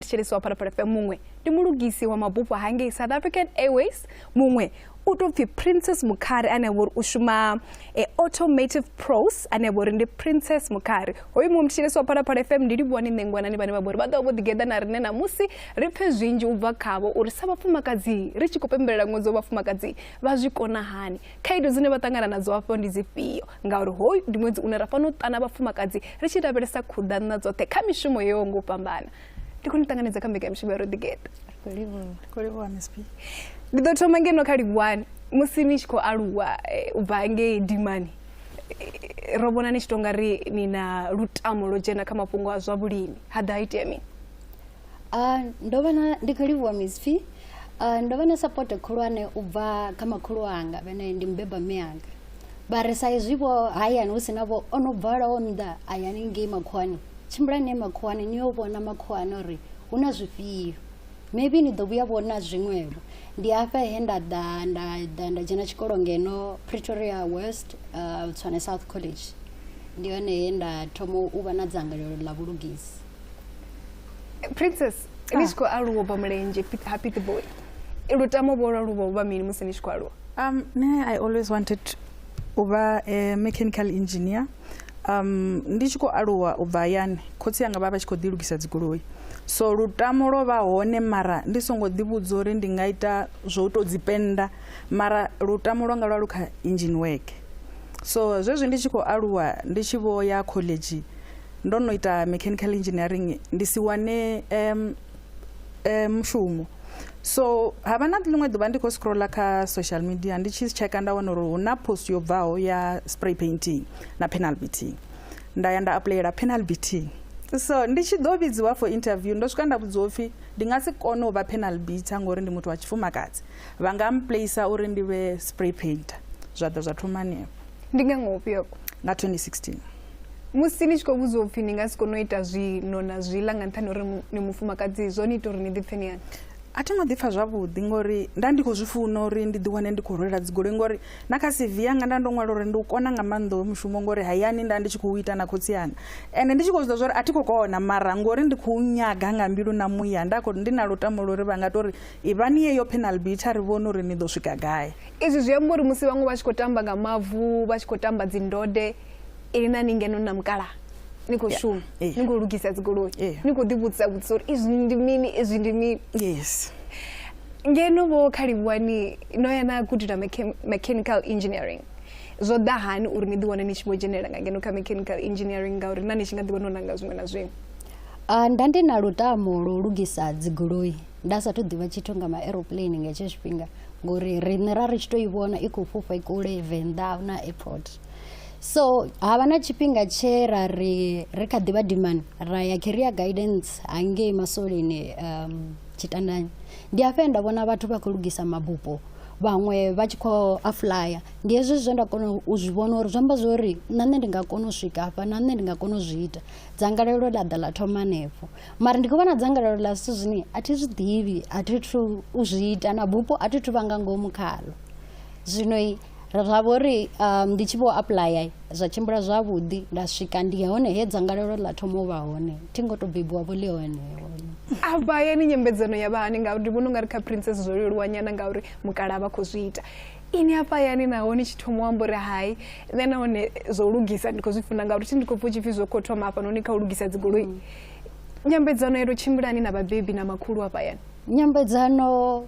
thetshelesi wa phalaphala fm muṅwe ndi mulugisi wa mabufho hangei south african airways muṅwe u tou pfhi princess mukhari ane a vhori u shuma e, automative pros ane a vhori ndi princess mukhari hoyu muṅwe muthetshelesi wa phalaphala fm ndi livhuwani nṋe ngwanani vhane vha vhori vha ḓovha vho ḓigeḓa na riṋe namusi ri pfhe zwinzhi u bva khavho uri sa vhafumakadzi ri tshi khou pembelela ṅwedzi wa vhafumakadzi vha zwi kona hani khaedu dzine vha ṱangana nadzo hafho ndi dzifhio ngauri hoyu ndi ṅwedzi une ra fanela u ṱana vhafumakadzi ri tshi lavhelesa khuḓanna dzoṱhe kha mishumo yo ngo fhambana ndi khou ni ṱanganedza kha mbekamishumo ya roḓigeḓa ndi ḓo thoma ngeno kha livhuwani musi ni tshi khou aluwa eh, u bva ngei dimani eh, ro vhona ni tshi tonga ri ni na lutamo lwo dzhena kha mafhungo a zwa vhulimi ha ḓa ha itea mini ah, ndo vhona ndi khou livhuwa misfi ah, ndo vha na sapoto khulwane u bva kha makhulu anga vhene ndi mubeba mme anga vha ri sa izwi vho hayani hu si na vho o no bvalaho nnḓa a ya ningei makhuwani tshimbulani ne makhuwani ni yo vhona makhuwani uri hu na zwifhio maybe ni ḓo vhuya vhona zwiṅwevho ndi hafha he nda ḓa nda ḓa nda dzhena tshikolo ngeno pretoria west uh, tswane south college ndi hone he nda thoma u vha na dzangalelo ḽa vhulugisi princess ni tshi khou aluwa u bva mulenzhe Pit- ha pity boy lutamo vho lwa luvha vha mini musi ni tshi khou aluwa Um, me, I always wanted u vha a mechanical engineer. Um, ndi tshi khou aluwa u bva hayani khotsi yanga vha vha tshi khou ḓi lugisa dzigoloi so lutamo lwo vha hone mara ndi songo ḓivhudza uri ndi nga ita zwo u tou dzi penda mara lutamo lwanga lwa lu kha engine work so zwezwi ndi tshi khou aluwa ndi tshi vho ya khoḽedzhi ndo no ita mechanical engineering ndi si wane um, um, mushumo so ha vha na ḽiṅwe ḓuvha ndi khou scrolla kha social media ndi tshi tsheka nda wana uri hu na post yo bvaho ya spray painting na penal beating nda ya nda aplayela penal beating so ndi tshi ḓo vhidziwa for interview ndo swika nda vhudziwa upfhi ndi nga si kone u vha penal beater ngori ndi muthu wa tshifumakadzi vha nga mplacer uri ndi vhe spray painter zwa ḓa zwa thoma hanefho ndi nga ngofhi yoko nga 2016 musi ni tshi khou vhudziwa upfhi ni nga si kone u ita zwino na zwiḽa nga nṱhani uri ni mufumakadzi zwo ni ita uri ni ḓipfhe ni hani a thi ngo ḓipfha zwavhuḓi ngori nda ndi khou zwi funa uri ndi ḓiwane ndi khou rwela dzigoloi ngori na kha cv yanga nda ndo ṅwala uri ndi u kona nga maanḓa hoyo mushumo ngori hayani nda ndi tshi khou ita na khotsi yanga ende ndi tshi khou zwiḓa zwori a thi khou kona mara ngori ndi khou nyaga nga mbilu na muya nda khou ndi na lutamo lwa uri vha nga to ri ivhani yeyo penal beat a ri vhone uri ni ḓo swika gai izwi zwi amba uri musi vhaṅwe vha tshi khou tamba nga mavu vha tshi khou tamba dzindode ini na ni ngeno na mukala ni khou shuma ni khou lugisa dzigoloi ni khou ḓivhudzisa vhudzisa uri izwi ndi mini izwi ndi mini yes ngeno vho khalivhuwani no ya na gudela mechanical engineering zwo ḓa hani uri ni ḓiwane ni tshi vho dzhenelela nga ngeno kha mechanical engineering ngauri na ni tshi nga ḓivha no nanga zwiṅwe na zwiṅwe ah, nda ndi na lutamo lwo lugisa dzigoloi nda sathu ḓivha tshithu nga ma-aeroplane nga hetsho tshifhinga ngori riṋe ra ri tshi tou i vhona i khou fhufha i kule venḓa na airport so ha vha na tshifhinga tshe ra ri ri kha ḓivha dimani ra ya career guidance hangei maswoleni um, tshitandani ndi afhe nda vhona vhathu vha khou lugisa mabupo vhaṅwe vha tshi khou aflaya ndi hezwi zwe nda kona u zwi vhona uri zwi amba zwo uri na nṋe ndi nga kona u swika hafha na nṋe ndi nga kona u zwi ita dzangalelo ḽa ḓa ḽa thoma hanefho mara ndi khou vha na dzangalelo ḽa zwithu zwine a thi zwi ḓivhi a thi thu u zwi ita na bupo a thi thu vha nga ngomu khalo zwino ra vho ri um, ndi tshi vho apuḽaya zwa tshimbila zwavhuḓi nda swika ndi hone he dzangalelo ḽa thoma u vha hone thi ngo to bebiwa vho ḽi hone avha yani nyambedzano ya vha hani ngauri ndi vhona u nga ri kha princess zwo leluwa nyana ngauri mukala vha khou zwi ita ini afha yani naho ni tshi thoma u amba uri hai nṋe nahone zwo lugisa ndi khou zwi funa ngauri thi ndi khou pfa u tshi pfhi zwo khou thoma hafha noni kha u lugisa dzigoloi mm. nyambedzano yo to tshimbilani na vhabebi na makhulu afha yani nyambedzano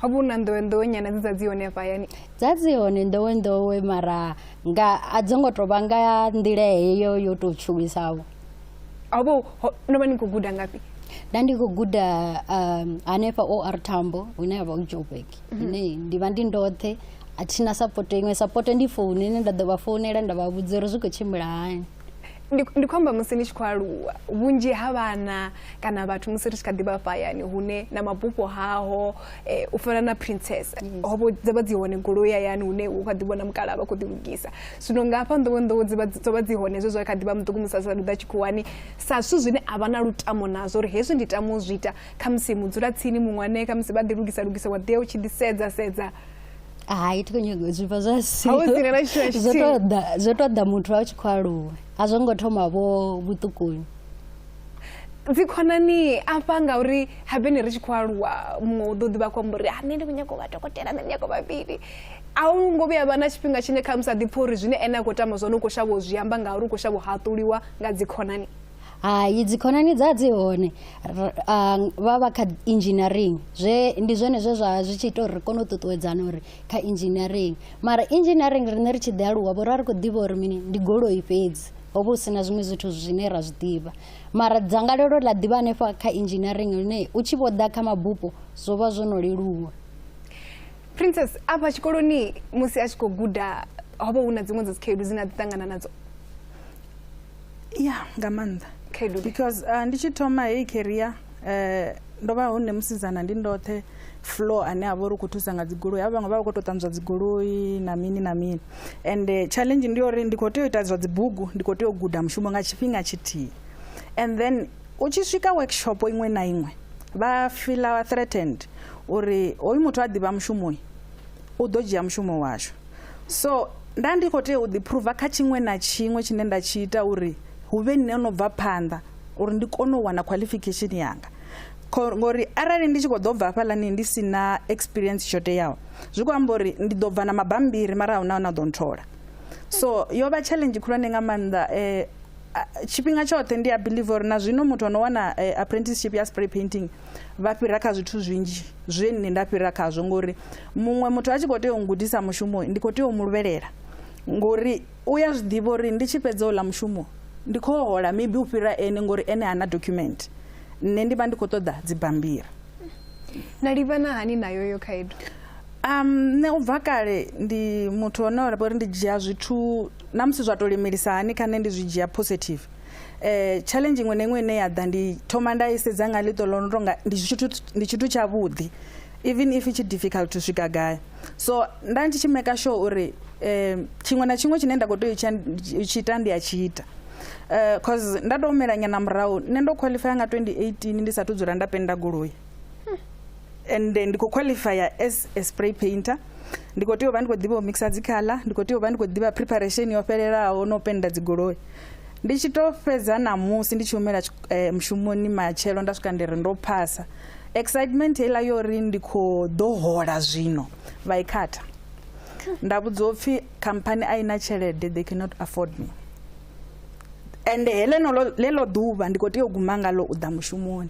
ho vha hu na nḓowenḓowe nyana dze dza dzi hone hafha hayani dza dzi hone nḓowenḓowe mara nga a dzo ngo tou vha nga nḓila heyo yo tou tshuwisavho ho vha no vha ni khou guda ngafhi nda ndi khou guda um, hanefha o r tambo hune ya vha u joburg mhm. ine ndi vha ndi ndoṱhe a thina sapoto iṅwe sapoto ndi founu ine nda ḓo vha founela nda vha vhudza uri zwi khou tshimbila hani ndi ndi khou amba musi ni tshi khou aluwa vhunzhi ha vhana kana vhathu musi ri tshi kha ḓi vha fhayani hune na mabufho haho eh, u fana na princess ho vho dza vha dzi hone goloi hayani hune u kha ḓi vhona mukala vha khou ḓi lugisa zwino nga hafha nḓowe nḓowe dzi vha dzi- dzo vha dzi hone zwe zwa kha ḓi vha muṱuku musi a sa ḓa tshikhuwani sa zwithu zwine a vha na lutamo nazwo uri hezwi ndi tama u zwi ita khamusi mudzula tsini muṅwane khamusi vha ḓi lugisa lugisa wa ḓi ya u tshi ḓi sedza sedza hai thi khou nyaga u zwifha zwa sizwo tou ḓa muthu a tshi khou aluwa a zwo ngo thoma vho vhuṱukuni dzikhonani afha ngauri habene ri tshi khou aluwa muṅwe u ḓo ḓivha khou amba uri a ah, nṋe ndi khou nyaga u vha dokotela nṋe ndi nyaga vhavhili a u ngo vhuya vha na tshifhinga tshine kha musi a ḓipfha uri zwine ene a khou tama zwone u khou shavha u zwi amba ngauri u khou shavha u haṱuliwa nga dzikhonani hai dzikhonani dza dzi hone R- ah, vha vha kha engineering zwe ndi zwone zwe zwa zwi tshi ita uri ri kone u ṱuṱuwedzana uri kha engineering mara engineering riṋe ri tshi ḓi aluwa vho ra ri khou ḓivha uri mini ndi goloi fhedzi ho vha hu si na zwiṅwe zwithu zwine ra zwi ḓivha mara dzangalelo ḽa ḓivha hanefha kha engineering lune u tshi vho ḓa kha mabupo zwo vha zwo no leluwa princess afha tshikoloni musi a tshi khou guda ho vha hu na dziṅwe dza dzikhaedu dzine a ḓi ṱangana nadzo ya nga maanḓa because uh, ndi tshi thoma heyi keria um eh, ndo vha hone musidzana ndi ndoṱhe floor ane a vha uri u khou thusa nga dzigoloi havha vhaṅwe vha vha khou tou ṱanzwa dzigoloi na mini na mini and eh, challenge ndi uri ndi khou tea u ita zwa dzibugu ndi khou tea u guda mushumo nga tshifhinga tshithihi and then u tshi swika workshop iṅwe na iṅwe vha fila threatened uri hoyu muthu a ḓivha mushumoyi U ḓo dzhia mushumo washu. So, nda ndi khou tea u ḓiphuruva kha tshiṅwe na tshiṅwe tshine nda tshi ita uri hu vhe nṋe no bva phanḓa uri ndi kone u wana qualification yanga ngori arali ndi tshi khou ḓo bva hafhaḽani ndi si na experience tsho teaho zwi khou amba uri ndi ḓo bva na mabambiri mara a hu na na ḓo nthola so yo vha challenge khulwane nga maanḓa um tshifhinga tshoṱhe ndi a believe uri na zwino muthu ano wana eh, apprenticeship ya spray painting vha fhira kha zwithu zwinzhi zwe nne nda fhira khazwo ngori muṅwe muthu a tshi khou tea u ngudisa mushumo ndi khou tea u mu luvhelela ngori u ya zwi ḓivha uri ndi tshi fhedza uḽa mushumo ndi khou hola maybe u fhira ene ngori ene hana document nne ndi vha ndi khou ṱoḓa dzibambiri na livhana hani nayo yo khaedu um nṋe u bva kale ndi muthu one ra uri ndi dzhia zwithu na musi zwa to lemelisa hani kha nṋe ndi zwi dzhia positive eh challenge iṅwe na iṅwe ine ya ḓa ndi thoma nda i sedza nga ḽiṱo ḽo no tonga ndi tshithu ndi tshithu tshavhuḓi even if it's difficult to swika gai so nda ndi tshi maker sure uri um tshiṅwe na tshiṅwe tshine nda khou tea u tshi ita ndi a tshi ita um cause nda tou melanyana murahu nṋe ndo qualifya nga 2018 ndi sathu dzula nda penda goloi and ndi khou qualifya as a spray painter ndi khou tea u vha ndi khou ḓivha u mixa dzikhala ndi khou tea u vha ndi khou ḓivha preparation yo fhelelaho na u penda dzigoloi ndi tshi tou fhedza ṋamusi ndi tshi humela mushumoni matshelo nda swika ndi ri ndo phasa Excitement heiḽa yo ri ndi khou ḓo hola zwino vha i khatha. Nda vhudziwa upfhi khamphani a i na tshelede they cannot afford me. Ende heḽeno ḽeḽo ḓuvha ndi khou tea u guma ngalo u ḓa mushumoni.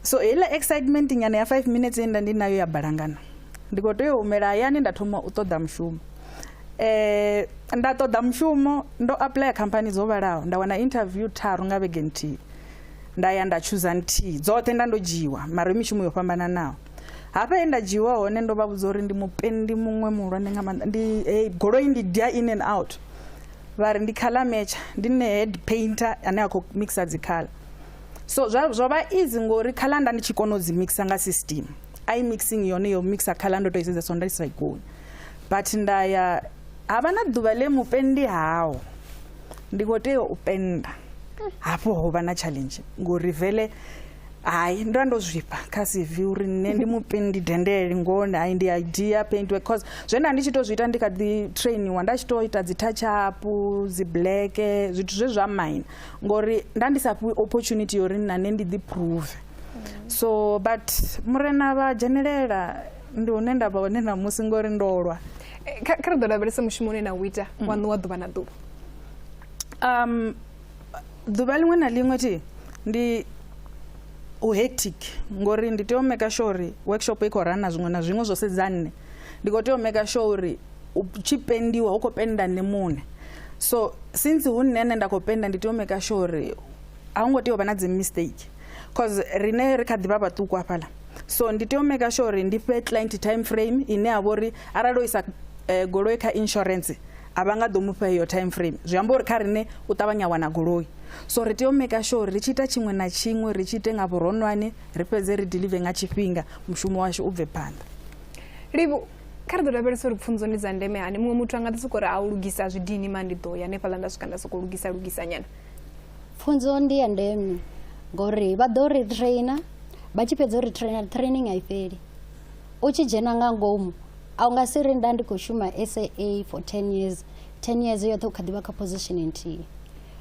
So heiḽa excitement nyana ya five minutes ye nda ndi nayo ya balangana. Ndi khou tea u humela hayani nda thoma u ṱoḓa mushumo. Nda ṱoḓa mushumo ndo apuḽaya khamphani dzo vhalaho nda wana interview tharu nga vhege nthihi. nda ya nda tshuza nthihi dzoṱhe nda ndo dzhiiwa mara yo mishumo yo fhambananaho hafha he nda dzhiiwa hone ndo vha vhudza uri ndi mupendi muṅwe muhulwane nga maanḓa ndi hey, goloi ndi dia in and out vha ri ndi color matcher ndi ne head painter ane a khou mixa dzikhala so zwo vha easy ngori khala nda ndi tshi kona u dzi mixa nga system i mixing yone yo mixa khala ndo to i sedza so nda i sa i koni but nda ya Ha vha na ḓuvha ḽe mupendi hao ndi khou tea u penda hafho ho vha na challenge ngori vele hayi ndo vha ndo zwifha kha cv uri nṋe ndi mupendi dendele ngone hayi ndi idea paint work cause zwe nda ndi tshi tou zwi ita ndi kha ḓi trainiwa nda tshi tou ita dzi touch up dzi black zwithu zwe zwa mine ngori nda ndi sa fhiwi opportunity yori na nṋe ndi ḓi prove so but murena vha dzhenelela ndi hune nda vha hone ṋamusi ngori ndo lwa eh, kha ri ḓo lavhelesa mushumo une na u ita mm. wa ṋuwa ḓuvha na ḓuvha um ḓuvha ḽiṅwe na ḽiṅwe thi ndi u hectic ngori ndi tea u meka sure uri workshop i khou rana zwiṅwe na zwiṅwe zwo sedza nne ndi khou tea u meka sure uri u tshi pendiwa hu khou penda nne muṋe so since hu nne nne nda khou penda ndi tea u meka sure uri a hu ngo tea u vha na dzi mistake cause rine ri kha ḓi vha vhaṱuku hafhaḽa so ndi tea u maker sure uri ndi fhe client time frame ine ya vha uri arali o isa eh, goloi kha insurance a vha nga ḓo mu fha iyo time frame zwi amba uri kha rine u ṱavhanya a wana goloi so ri tea u maker sure uri ri tshi ita tshiṅwe na tshiṅwe ri tshi ite nga vhuronwane ri fhedze ri delive nga tshifhinga mushumo washu u bve phanḓa livhu kha ri ḓo lavhelesa uri pfunzo ndi dza ndeme hani muṅwe muthu a nga ḓi sokou ri a u lugisa zwidini ma ndi ḓo ya hanefhaḽa nda swika nda sokou lugisa lugisa nyana pfunzo ndi ya ndeme ngori vha ḓo ri trainer vha tshi fhedza uri trainer training a i fheli u tshi dzhena nga ngomu a u nga si ri nda ndi khou shuma saa for ten years ten years yoṱhe u kha ḓivha kha position nthihi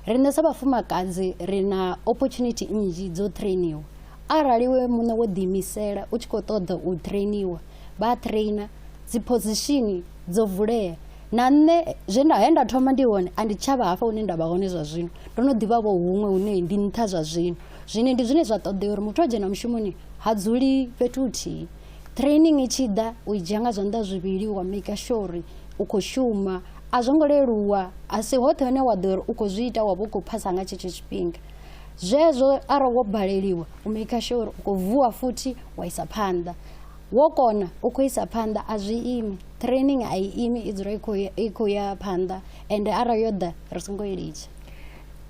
riṋe sa vhafumakadzi ri na opportunity nnzhi dzo trainiwa arali we muṋe wo ḓiimisela u tshi khou ṱoḓa u trainiwa vha trainer dzi position dzo vulea na nṋe zwe nda he nda thoma ndi hone a ndi tshavha hafha hune nda vha hone zwa zwino ndo no ḓivha vho huṅwe hune ndi nṱha zwa zwino zwine ndi zwine zwa ṱoḓea uri muthu a dzhena mushumoni ha dzuli fhethu huthihi training i tshi ḓa u i dzhia nga zwanḓa zwivhili wa maker sure uri u khou shuma a zwo ngo leluwa a si hoṱhe hune wa ḓo uri u khou zwi ita wa vha u khou phasa nga tshetsho tshifhinga zwezwo arali wo baleliwa u maker sure uri u khou vuwa futhi wa isa phanḓa wo kona u khou isa phanḓa a zwi imi training a i imi i dzula i khou ya phanḓa ende arali yo ḓa ri songo i litsha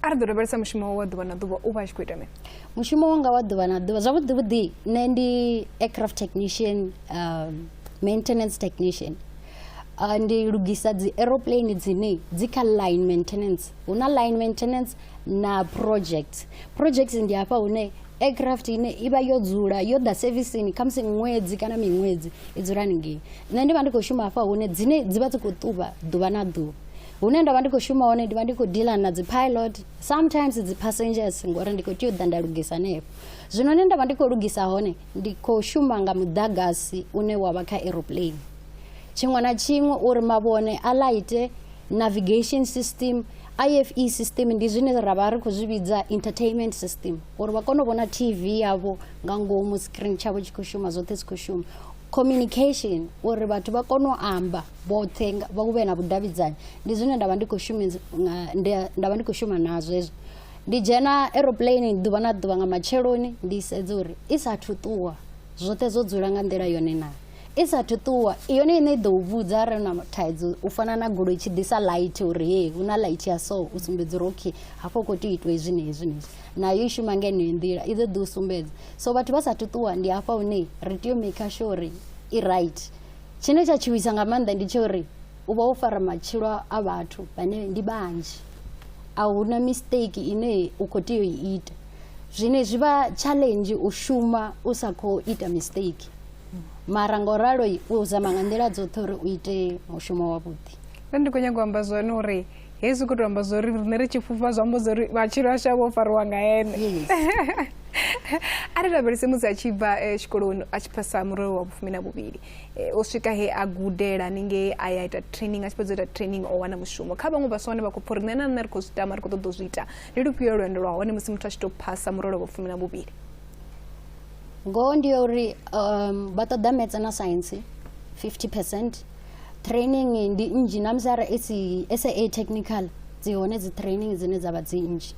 a ri ḓo lavhelesa mushumo wa ḓuvha na ḓuvha u vha a tshi khou ita mini mushumo wanga wa ḓuvha na ḓuvha zwavhuḓi vhuḓi nṋe ndi aircraft technician um, maintenance technician uh, ndi lugisa dzi aeroplane dzine dzi kha line maintenance hu na line maintenance na project project ndi hafha hune aircraft ine i vha yo dzula yo ḓa sevisini khamusi ṅwedzi kana miṅwedzi i dzula haningei nṋe ndi vha ndi khou shuma hafha hune dzine dzi vha dzi khou ṱuvha ḓuvha na ḓuvha hune nda vha ndi khou shuma hone ndi vha ndi khou dealer na dzi pilot sometimes dzi passengers ngori ndi khou tea u ḓa nda lugisa hanefho zwino hune nda vha ndi khou lugisa hone ndi khou shuma nga muḓagasi une wa vha kha aeroplane tshiṅwe na tshiṅwe uri mavhone a lighte navigation system ife system ndi zwine ra vha ri khou zwi vhidza entertainment system uri vha kone u vhona tv yavho nga ngomu screen tshavho tshi khou shuma zwoṱhe zwi khou shuma communication uri vhathu vha kone u amba vhoṱhe nga- vha vhe na vhudavhidzani ndi zwine nda vha ndi khou shumisa nga- ndi- nda vha ndi khou shuma nazwo hezwo ndi dzhena aeroplane ḓuvha na ḓuvha nga matsheloni ndi sedza uri i sathu ṱuwa zwoṱhe zwo dzula nga nḓila yone naa I sa athu ṱuwa yone ine i ḓo u vhudza arali na thaidzo u fana na goloi tshi ḓisa light uri he hu na light ya so u sumbedza uri okay hafho khou tea u itiwa hezwi na hezwi na hezwi nayo i shuma nga heneyo nḓila i ḓo ḓi u sumbedza so vhathu vha sa athu ṱuwa ndi hafha hune ri tea u maker sure uri i right tshine tsha tshuwisa nga maanḓa ndi tsha uri u vha wo fara matshilo a vhathu vhane ndi vhanzhi a hu na mistake ine u khou tea u i ita zwine zwi vha challenge u shuma u sa khou ita mistake mara ngo ralo u zama nga nḓila dzoṱhe uri u ite mushumo wavhuḓi nṋe ndi khou nyanga u amba zwone uri hezwi khou tou amba zwa uri riṋe ri tshi fhufha zwi amba zwa uri matshilo ashu a vho fariwa nga ene a ri lavhelese musi a tshi bva eh, tshikoloni a tshi phasa murole wa vhufumi na vhuvhili eh, o swika he a gudela haningei a ya ita training a tshi fhedza ita training o wana mushumo kha vhaṅwe vhaswa vhane vha khou pfha uri nṋe na nṋe ri khou zwi tama ri khou ṱoḓa u zwi ita ndi lufhio lwendo lwa hone musi muthu a tshi tou phasa murole wa vhufumi na vhuvhili ngoho ndi ya uri um, vha ṱoḓa metse na science 50 percent training ndi nnzhi na musi arali sa technical dzi hone dzi training dzine dza vha dzi nnzhi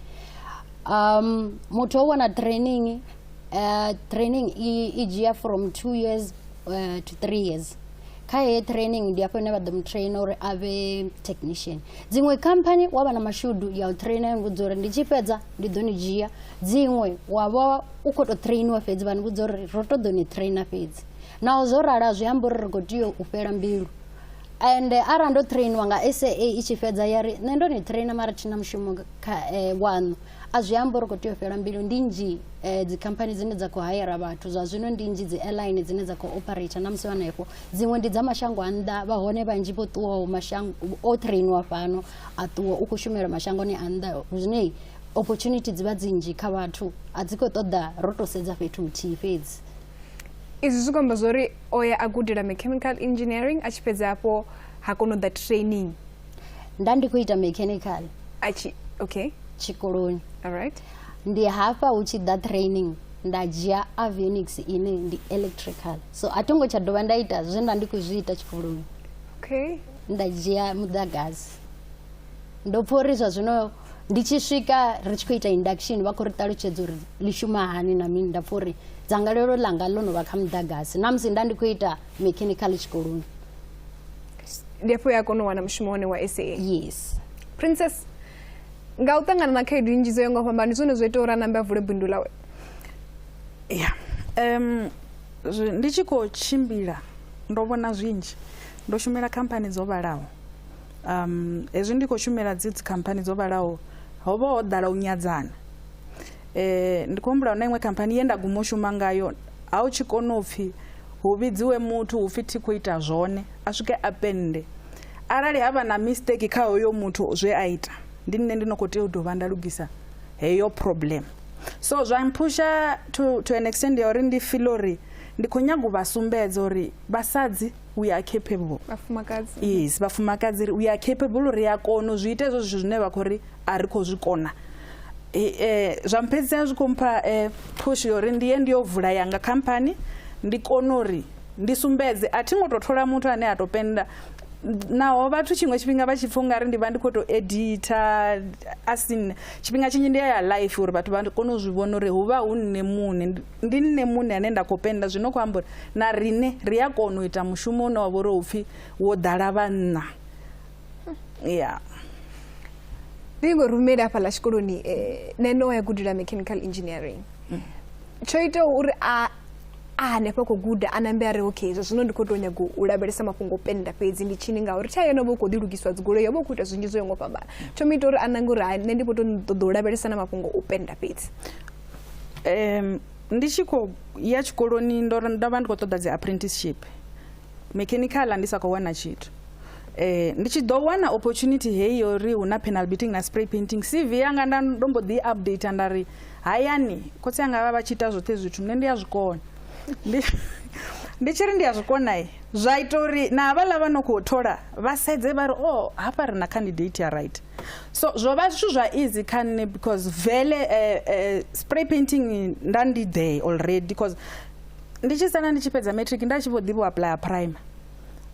um muthu o wana training uh, training i dzhia from two years uh, to three years kha heyo training ndi afho ine vha ḓo mu traina uri a vhe technician dziṅwe company wa vha na mashudu ya u traina ya ngudza uri ndi tshi fhedza ndi ḓo ni dzhia dziṅwe wa vha u khou tou trainiwa fhedzi vha ni vhudza uri ro to ḓo ni traina fhedzi naho zwo rala zwi amba uri ri khou tea u fhela mbilu ende arali ndo trainiwa nga saa i tshi fhedza ya ri nṋe ndo ni traina mara thina mushumo kha eh, waṋu a zwi amba uri khou tea u fhela mbilu ndi nnzhi eh, dzikhamphani dzine dza khou hayela vhathu zwa zwino ndi nnzhi dzi airline dzine dza khou operate na musi hanefho dziṅwe ndi dza mashango a nnḓa vha hone vhanzhi vho ṱuwaho mashango o trainiwa fhano a ṱuwa u khou shumela mashangoni a nnḓa zwine opportunity dzi vha dzi nnzhi kha vhathu a dzi khou ṱoḓa ro to sedza fhethu huthihi fhedzi izwi zwi khou amba zwa uri o ya a gudela mechanical engineering a tshi fhedza hafho ha kona u ḓa training nda ndi khou ita mechanical a tshi okay tshikoloni alright ndi hafha hu tshi ḓa training nda dzhia avionics ine ndi electrical so a thi ngo tsha dovha nda ita zwe nda ndi khou zwi ita tshikoloni okay nda dzhia muḓagasi ndo pfha uri zwa zwino ndi tshi swika ri tshi khou ita induction vha khou ri ṱalutshedza uri ḽi shuma hani na mini nda pfha uri dzangalelo ḽanga ḽo no vha kha muḓagasi na musi nda ndi khou ita mechanical tshikoloni ndi afho ya kona u wana mushumo wane wa sa yes princess nga u ṱangana na khaedu nnzhi dzo yo nga u fhambana ndi zwone zwo ita uri a nambe a vule bindu lawe ya um Ndi tshi khou tshimbila ndo vhona zwinzhi ndo shumela khamphani dzo vhalaho um hezwi ndi khou shumela dzi dzikhamphani dzo vhalaho ho vha ho ḓala u nyadzana eh ndi khou humbula na iṅwe khamphani ye nda guma u shuma ngayo ha u tshi kona u pfhi hu vhidziwe muthu hu pfhi thi khou ita zwone a swike a pennde arali ha vha na mistake kha hoyo muthu zwe a ita ndi nṋe ndi no khou tea u dovha nda lugisa heyo problem so zwa mphusha to, to an extend ya uri ndi file uri ndi khou nyaga u vha sumbedza uri vhasadzi we are capable vhafumakadzi yes vhafumakadzi ri we are capable uri a kona u zwi ita hezwo zwithu zwine vha khou ri a ri khou zwi kona Eh, eh, zwa mphedzisela zwi khou mpha eh, push yori ndiye ndi yo vula yanga khamphani ndi kone uri ndi sumbedze a thi ngo tou thola muthu ane a tou penda naho vhathu tshiṅwe tshifhinga vha tshi pfha ungari ndi vha ndi khou tou edita asini tshifhinga tshinzhi ndi ya ya life uri vhathu vha kone u zwi vhona uri hu vha hu nṋe muṋe ndi nṋe muṋe ane nda khou penda zwino khou amba uri na riṋe ri a kona u ita mushumo une wa vha uri u pfhi wo ḓala vhanna ya ndi ngo rumele hafhaḽa tshikoloni um nṋe no ya gudela mechanical engineering mm. tsho itaho uri a a hanefha khou guda a nambe a ri okay zwa zwino ndi khou tou nyaga u lavhelesa mafhungo o penda fhedzi ndi tshini ngauri tsha yone vha u khou ḓilugiswa dzigoloi yo vha u khou ita zwinzhi zwo yo ngo fhambana tsho mu ita uri a nange uri nṋe ndi vho to ṱoḓa u lavhelesa na mafhungo o penda fhedzi um ndi tshi khou ya tshikoloni ndo vha ndi khou ṱoḓa dzi apprenticeship Mechanical ndi sa khou wana tshithu eh, ndi tshi ḓo wana opportunity heyi yo ri hu na panel beating na spray painting cv yanga nda ndo mbo ḓi update nda ri hayani khotsi anga vha vha tshi ita zwoṱhe zwithu nṋe ndi a zwikona ndi ndi tshi ri ndi a zwikona i zwa ita uri na havhaḽa vha no khou thola vha sedze vha ri o oh, hafha ri na candidate ya right so zwo vha zwithu zwa easy kha nṋe because vele eh, eh, spray painting nda ndi there already because ndi tshi sala ndi tshi fhedza matric nda tshi vho ḓivha u apuḽaya prime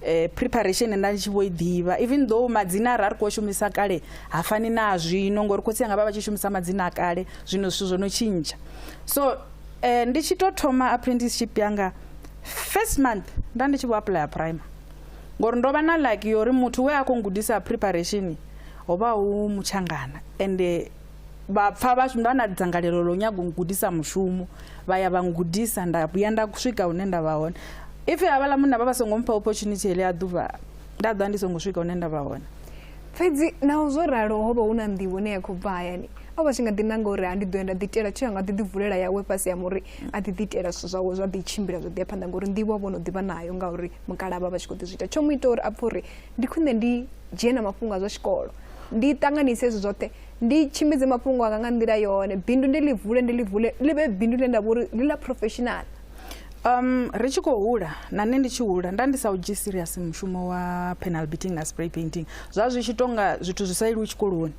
eh, preparation nda ndi tshi vho i ḓivha even though madzina ra ri khou shumisa kale ha fani na zwino ngori khotsi anga vha vha tshi shumisa madzina a kale zwino zwithu zwo no tshintsha so eh, ndi tshi tou thoma apprenticeship yanga first month nda ndi tshi vho apuḽaya prime ngori ndo vha na lucky yori muthu we a khou gudisa preparation ho vha hu mutshangana ende vha pfa vha vha na dzangalelo ḽo nyaga u gudisa mushumo vha ya vha ngudisa nda vhuya nda swika hune nda vha hone if havhaḽa munna vha vha songo mpha opportunity heḽi a ḓuvha nda ḓa ndi songo swika hune nda vha hone fhedzi naho zwo ralo ho vha hu na nḓivho ne ya khou bva hayani o vha tshi nga ḓi nanga uri ha ndi ḓo ya nda ḓitela tsho ya nga ḓi ḓivulela yawe fhasi ya muri a ḓi ḓitela zwithu zwawe zwa ḓi tshimbila zwa ḓi ya phanḓa ngauri nḓivho vho no ḓivha nayo ngauri mukala vha vha tshi khou ḓi zwi ita tsho mu ita uri a pfhe uri ndi khwine ndi dzhie na mafhungo a zwa tshikolo ndi ṱanganise hezwi zwoṱhe ndi tshimbidze mafhungo anga nga nḓila yone bindu ndi ḽi vule ndi ḽi vule ḽi vhe bindu ḽine nda vha uri ḽi ḽa professional um ri tshi khou hula na nṋe ndi tshi hula nda ndi sa u dzhii serious mushumo wa penal beating na spray painting zwa zwi tshi tonga zwithu zwi sa iliwi tshikoloni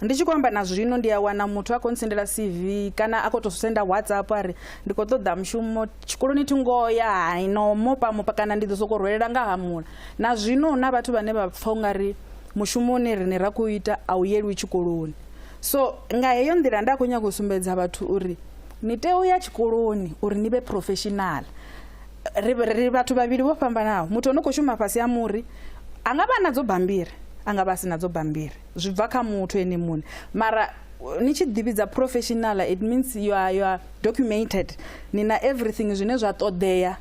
ndi tshi khou amba na zwino ndi a wana muthu a khou ntsendela cv kana a khou tou senda whatsapp a ri ndi khou ṱoḓa mushumo tshikoloni thi ngoho ya haino mopa mopa kana ndi ḓo sokou rwelela nga hamula na zwino hu na vhathu vhane vha pfha u nga ri mushumo une rine ra khou ita a u yelwi tshikoloni so nga heyo nḓila nda khou nyanga u sumbedza vhathu uri ni tea u ya tshikoloni uri ni vhe professional ri vhathu vhavhili vho fhambanaho muthu ono khou shuma fhasi ha muri a nga vha nadzo bambiri a nga vha a si nadzo bambiri zwi bva kha muthu ene muṋe mara ni tshi ḓivhidza professional it means you are, you are documented ni na everything zwine zwa ṱoḓea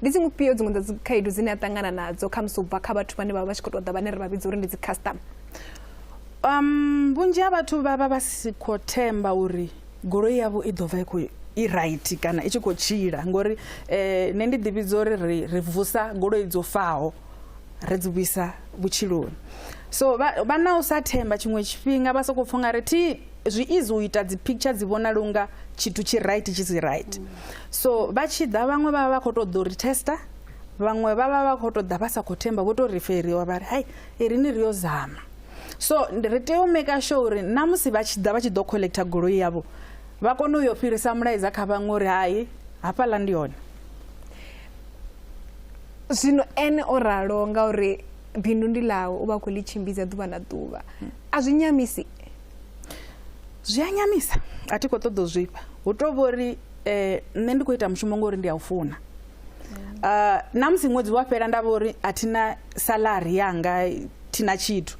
ndi dziṅwe fhio dziṅwe dza dzikhaedu dzine a ṱangana nadzo khamusi u bva kha vhathu vhane vha vha tshi khou ṱoḓa vhane ri vha vhidza uri ndi dzikhasitama um vhunzhi ha vhathu vha vha vha si khou themba uri goloi yavho i ḓo bva i khou i right kana i tshi khou tshila ngori um nṋe ndi ḓivhidza uri ri ri vusa goloi dzo faho ri dzi vhuisa vhutshiloni so vha na u sa themba tshiṅwe tshifhinga vha sokou pfha nga ri thi zwi easy u ita dzi picture dzi vhonala unga tshithu tshi right tshi si right so vha tshi ḓa vhaṅwe vha vha vha khou tou ḓo ri tester vhaṅwe vha vha vha khou tou ḓa vha sa khou themba vho tou referiwa vha ri hai i ri ni ri yo zama so ri tea u maker sure uri na musi vha tshi ḓa vha tshi ḓo collector goloi yavho vha kone u yo fhirisa mulaedza kha vhaṅwe uri hai hafhaḽa ndi hone zwino ene o ralo ngauri bindu ndi ḽawe u vha khou ḽi tshimbidza ḓuvha na ḓuvha a zwi nyamisi zwi a nyamisa a thi khou ṱoḓa u zwifha hu to vhori eh, nṋe ndi khou ita mushumo ngori ndi a u funa uh, na musi ṅwedzi wa fhela nda vha uri a thina salari yanga thina tshithu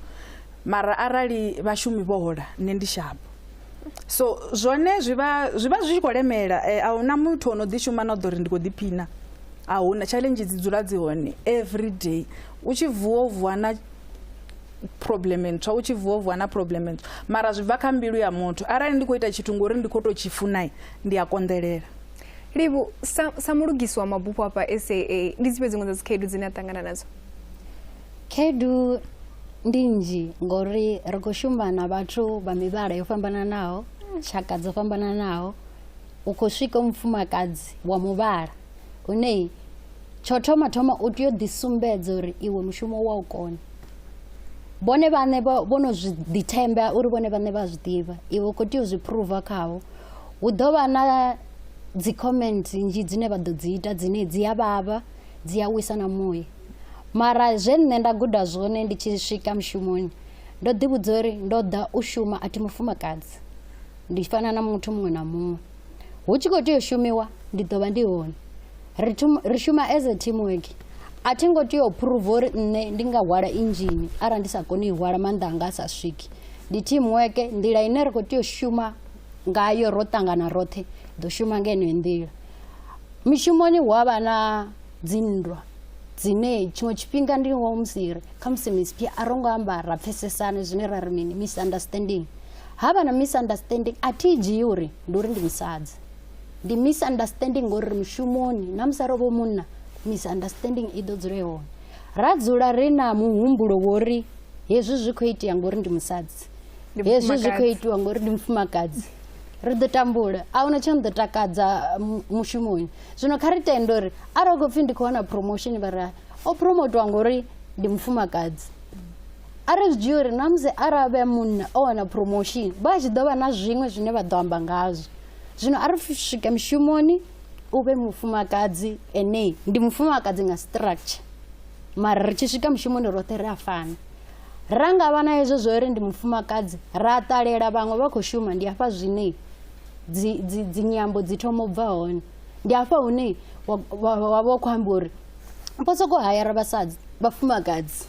mara arali vhashumi vho hola nṋe ndi shavho so zwone zwi vha zwi vha zwi tshi khou lemela um a huna muthu o no ḓi shuma na u ḓo ri ndi khou ḓiphina a huna challenge dzi dzula dzi hone every day u tshi vuwa u vuwa na problem ntswa u tshi vuwa u vuwa na problem ntswa mara zwi bva kha mbilu ya muthu arali ndi khou ita tshithu ngori ndi khou tou tshi funai ndi a konḓelela livhu sa, sa mulugisi wa mabufho afha saa ndi dzifhe dziṅwe dza dzikhaedu dzine a ṱangana nadzo Khaedu ndi nnzhi ngori ri khou shuma na vhathu vha mivhala yo fhambananaho, tshaka dzo fhambananaho. U khou swika u mufumakadzi wa muvhala une tsho thoma thoma u tea u ḓi sumbedza uri iwe mushumo wa u kona. Vhone vhaṋe vho vho no zwi ḓi themba uri vhone vhaṋe vha zwi ḓivha iwe u khou tea u zwi phuruva khavho. Hu ḓo vha na dzi comment nnzhi dzine vha ḓo dzi ita dzine dzi a vhavha dzi a wisa na muya. Mara zwe nṋe nda guda zwone ndi tshi swika mushumoni ndo ḓi vhudza uri ndo ḓa u shuma a thi mufumakadzi ndi fana na muthu muṅwe na muṅwe hu tshi khou tea u shumiwa ndi ḓo vha ndi hone ri ri shuma as a team work a thi ngo tea u phuruva uri nṋe ndi nga hwala inzhini arali ndi sa koni u hwala maanḓa anga a sa swiki ndi team work nḓila ine ri khou tea u shuma ngayo ro ṱangana roṱhe ḓo shuma nga yeneyo nḓila mishumoni hu avha na dzinndwa dzine tshiṅwe tshifhinga ndi ngoho musi ri khamusi misiphi a ro ngo amba ra pfesesane zwine ra ri mini misunderstanding ha vha na misunderstanding a thi dzhii uri ndi uri ndi musadzi ndi misunderstanding ngori ri mushumoni na musi ro vho munna misunderstanding i ḓo dzula hone ra dzula ri na muhumbulo wori hezwi zwi khou itea ngori ndi musadzi hezwi zwi khou itiwa ngori ndi mufumakadzi ri ḓo tambula a huna tsho ni ḓo takadza mushumoni zwino kha ri tende uri arali u khou pfhi ndi khou wana promotion vha ri o promotiwa ngori ndi mufumakadzi a ri zwi dzhia uri na musi arali vhe munna o wana promotion vha tshi ḓo vha na zwiṅwe zwine vha ḓo amba ngazwo zwino a ri swike mushumoni u vhe mufumakadzi ene ndi mufumakadzi nga structure mara ri tshi swika mushumoni roṱhe ri a fana ra nga vha na hezwo zwo ri ndi mufumakadzi ra ṱalela vhaṅwe vha khou shuma ndi afha zwine dzi dzi dzi nyambo dzi thoma u bva hone ndi hafha hune wa- wa wa vha u khou amba uri vho sokou hayara vhasadzi vhafumakadzi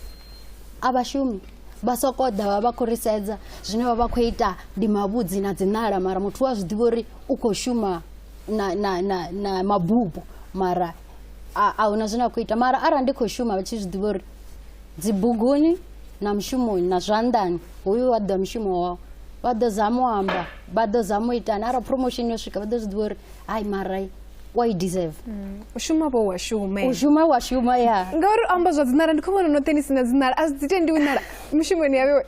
a vhashumi vha sokou ḓa vha vha khou ri sedza zwine vha vha khou ita ndi mavhudzi na dziṋala mara muthu wa zwi ḓivha uri u khou shuma na, na, na, na mabupo mara a a huna zwine a khou ita mara arali ndi khou shuma vha tshi zwi ḓivha uri dzibuguni na mushumoni na zwanḓani hoyu wa ḓa mushumo wao vha ḓo zama u amba vha ḓo zama u itani arali promotion yo swika vha ḓo zwi ḓivha uri hayi marai wa i deserve mm. u shuma vho wa shume u shuma wa shuma ya ngauri amba zwa dzinala ndi khou vhona noṱhe ni si na dzinala a zwi dzi tendi u nala mushumoni yavewe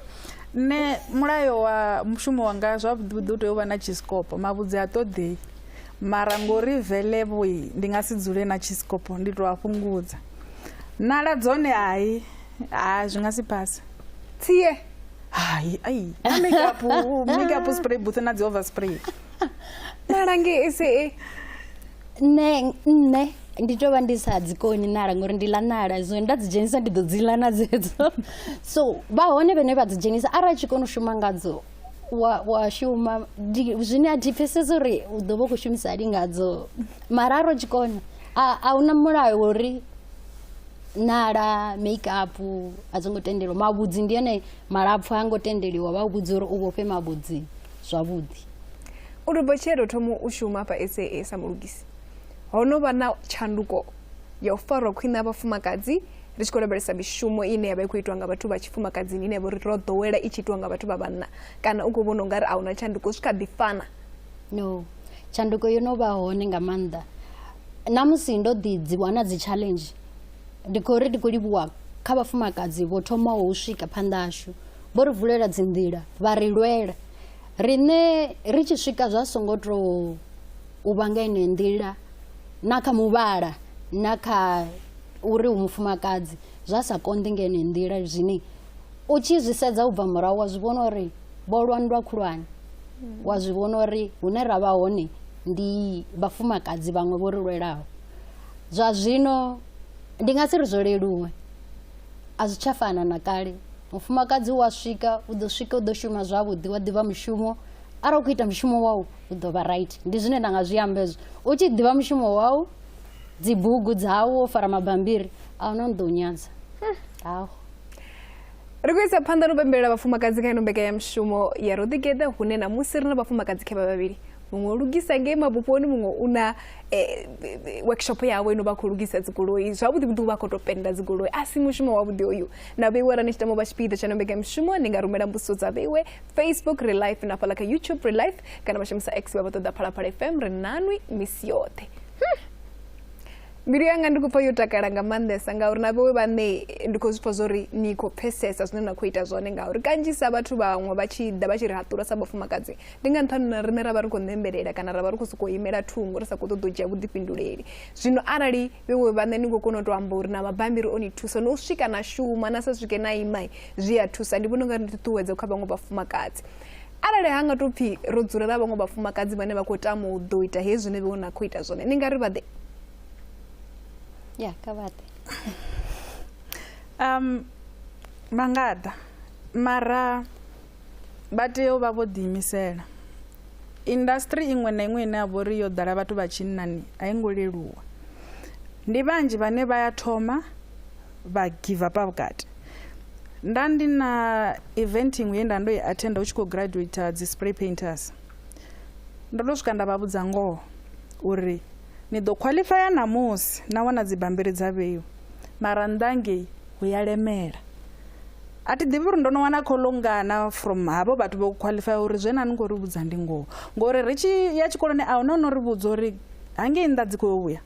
nṋe mulayo wa mushumo wanga zwavhuḓivhuḓi u tea u vha na chisikopo mavhudzi a ṱoḓei mara ngori velevoi ndi nga si dzule na chisikopo ndi tou a fhungudza nala dzone hai ha zwi nga si phase tsie hai ai na makeup makeup spray booth na dzi over spray nala nge ese e nṋe nṋe ndi tovha ndi sa dzi koni nala ngori ndi ḽa nala so nda dzi dzhenisa ndi ḓo dzi ḽa na dzedzo so vha hone vhane vha dzi dzhenisa arali tshi kona u shuma ngadzo wa wa shuma zwine a thi pfhesesi uri u ḓo vha u khou shumisa lingadzo mara ro tshi kona A, a huna mulayo wa uri nala make up a dzi ngo tendeliwa mavhudzi ndi ene malapfu ha ngo tendeliwa vha vhudza uri u vhofhe mavhudzi zwavhuḓi u ri botshelo u thomo u shuma hafha saa sa mulugisi ho no vha na tshanduko ya u farwa khwine ha vhafumakadzi ri tshi khou lavhelesa mishumo ine ya vha i khou itiwa nga vhathu vha tshifumakadzini ine ya vha uri ro ḓowela i tshi itiwa nga vhathu vha vhanna kana u khou vhona u nga ri a huna tshanduko zwi kha ḓi fana no tshanduko yo no vha hone nga maanḓa na musi ndo ḓi dzi wana dzi challenge ndi khou ri ndi khou livhuwa kha vhafumakadzi vho thomaho u swika phanḓa ashu vho ri vulela dzi nḓila vha ri lwela riṋe ri tshi swika zwa songo to u vha nga ine nḓila na kha muvhala na kha uri u mufumakadzi zwa sa konḓi nga ine nḓila zwine U tshi zwi sedza u bva murahu wa zwi vhona uri vho lwa nndwa khulwane wa zwi vhona uri hune ra vha hone ndi vhafumakadzi vhaṅwe vho ri lwelaho zwa zwino ndi nga si ri zwo leluwe a zwi tsha fana na kale mufumakadzi wa swika u ḓo swika u ḓo shuma zwavhuḓi wa ḓivha mushumo arali u khou ita mushumo wau u ḓo vha right ndi zwine nda nga zwi amba hezwo u tshi ḓivha mushumo wau dzibugu dzau wo fara mabambiri a huna ni ḓo u nyadza hmm. aho ri khou isa phanḓa no pembelela vhafumakadzi kha ino mbekanyamushumo ya ro ḓigeḓa hune na musi ri na vhafumakadzi khe vha vhavhili muṅwe o lugisa ngei mabuponi muṅwe u na eh, workshop yavho ino vha khou lugisa dzigoloi zwavhuḓi vhuḓi vha khou tou penda dzigoloi a si mushumo wavhuḓi oyu na vheiwe ra ni tshi tamo vha tshipiḓa tsha nombeka mushumo ni nga rumela mbudziso dza vheiwe facebook re life na fhala kha youtube re life kana vha shumisa x vha vha ṱoḓa phalaphala fm ri nanwi misi yoṱhe hmm. mbilu yanga ndi khou pfa yo takala nga maanḓesa ngauri na vhewe vhaṋe ndi khou zwi pfa zwo ri ni khou pfhesesa zwine na khou ita zwone ngauri kanzhisa vhathu vhaṅwe vha tshi ḓa vha tshi ri haṱula sa vhafumakadzi ndi nga nṱhani na riṋe ra vha ri khou ṋembelela kana ra vha ri khou sokou imela thungo ri sa khou ṱoḓa u dzhia vhuḓifhinduleli zwino arali vhewe vhaṋe ni khou kona u tou amba uri na mabambiri o ni thusa no u swika na shuma na sa swike na imai zwi a thusa ndi vhona u nga ri ṱuṱuwedza kha vhaṅwe vhafumakadzi arali ha nga tou pfhi ro dzulela vhaṅwe vhafumakadzi vhane vha khou tama u ḓo ita hezwi zwine vhe na khou ita zwone ni nga ri vhaḓe ya kha vhaḓe um vha nga ḓa mara vha tea u vha vho ḓiimisela industry iṅwe na iṅwe ine ya vho ri yo ḓala vhathu vha tshinnani a i ngo leluwa ndi vhanzhi vhane vha ya thoma vha give up vhukati nda ndi na event iṅwe ye nda ndo i attenda hu tshi khou graduator dzi spray painters ndo to swika nda vha vhudza ngoho uri ni ḓo qualifya ṋamusi na wana dzibambiri dza vheiwa mara nnḓa ngei hu ya lemela a thi ḓivhi uri ndo no wana kholo ngana from havho vhathu vho qualifya uri zwe na ni khou ri vhudza ndi ngoho ngori ri tshi ya tshikoloni a huna no ri vhudza uri hangei nnḓa dzi khou vhuya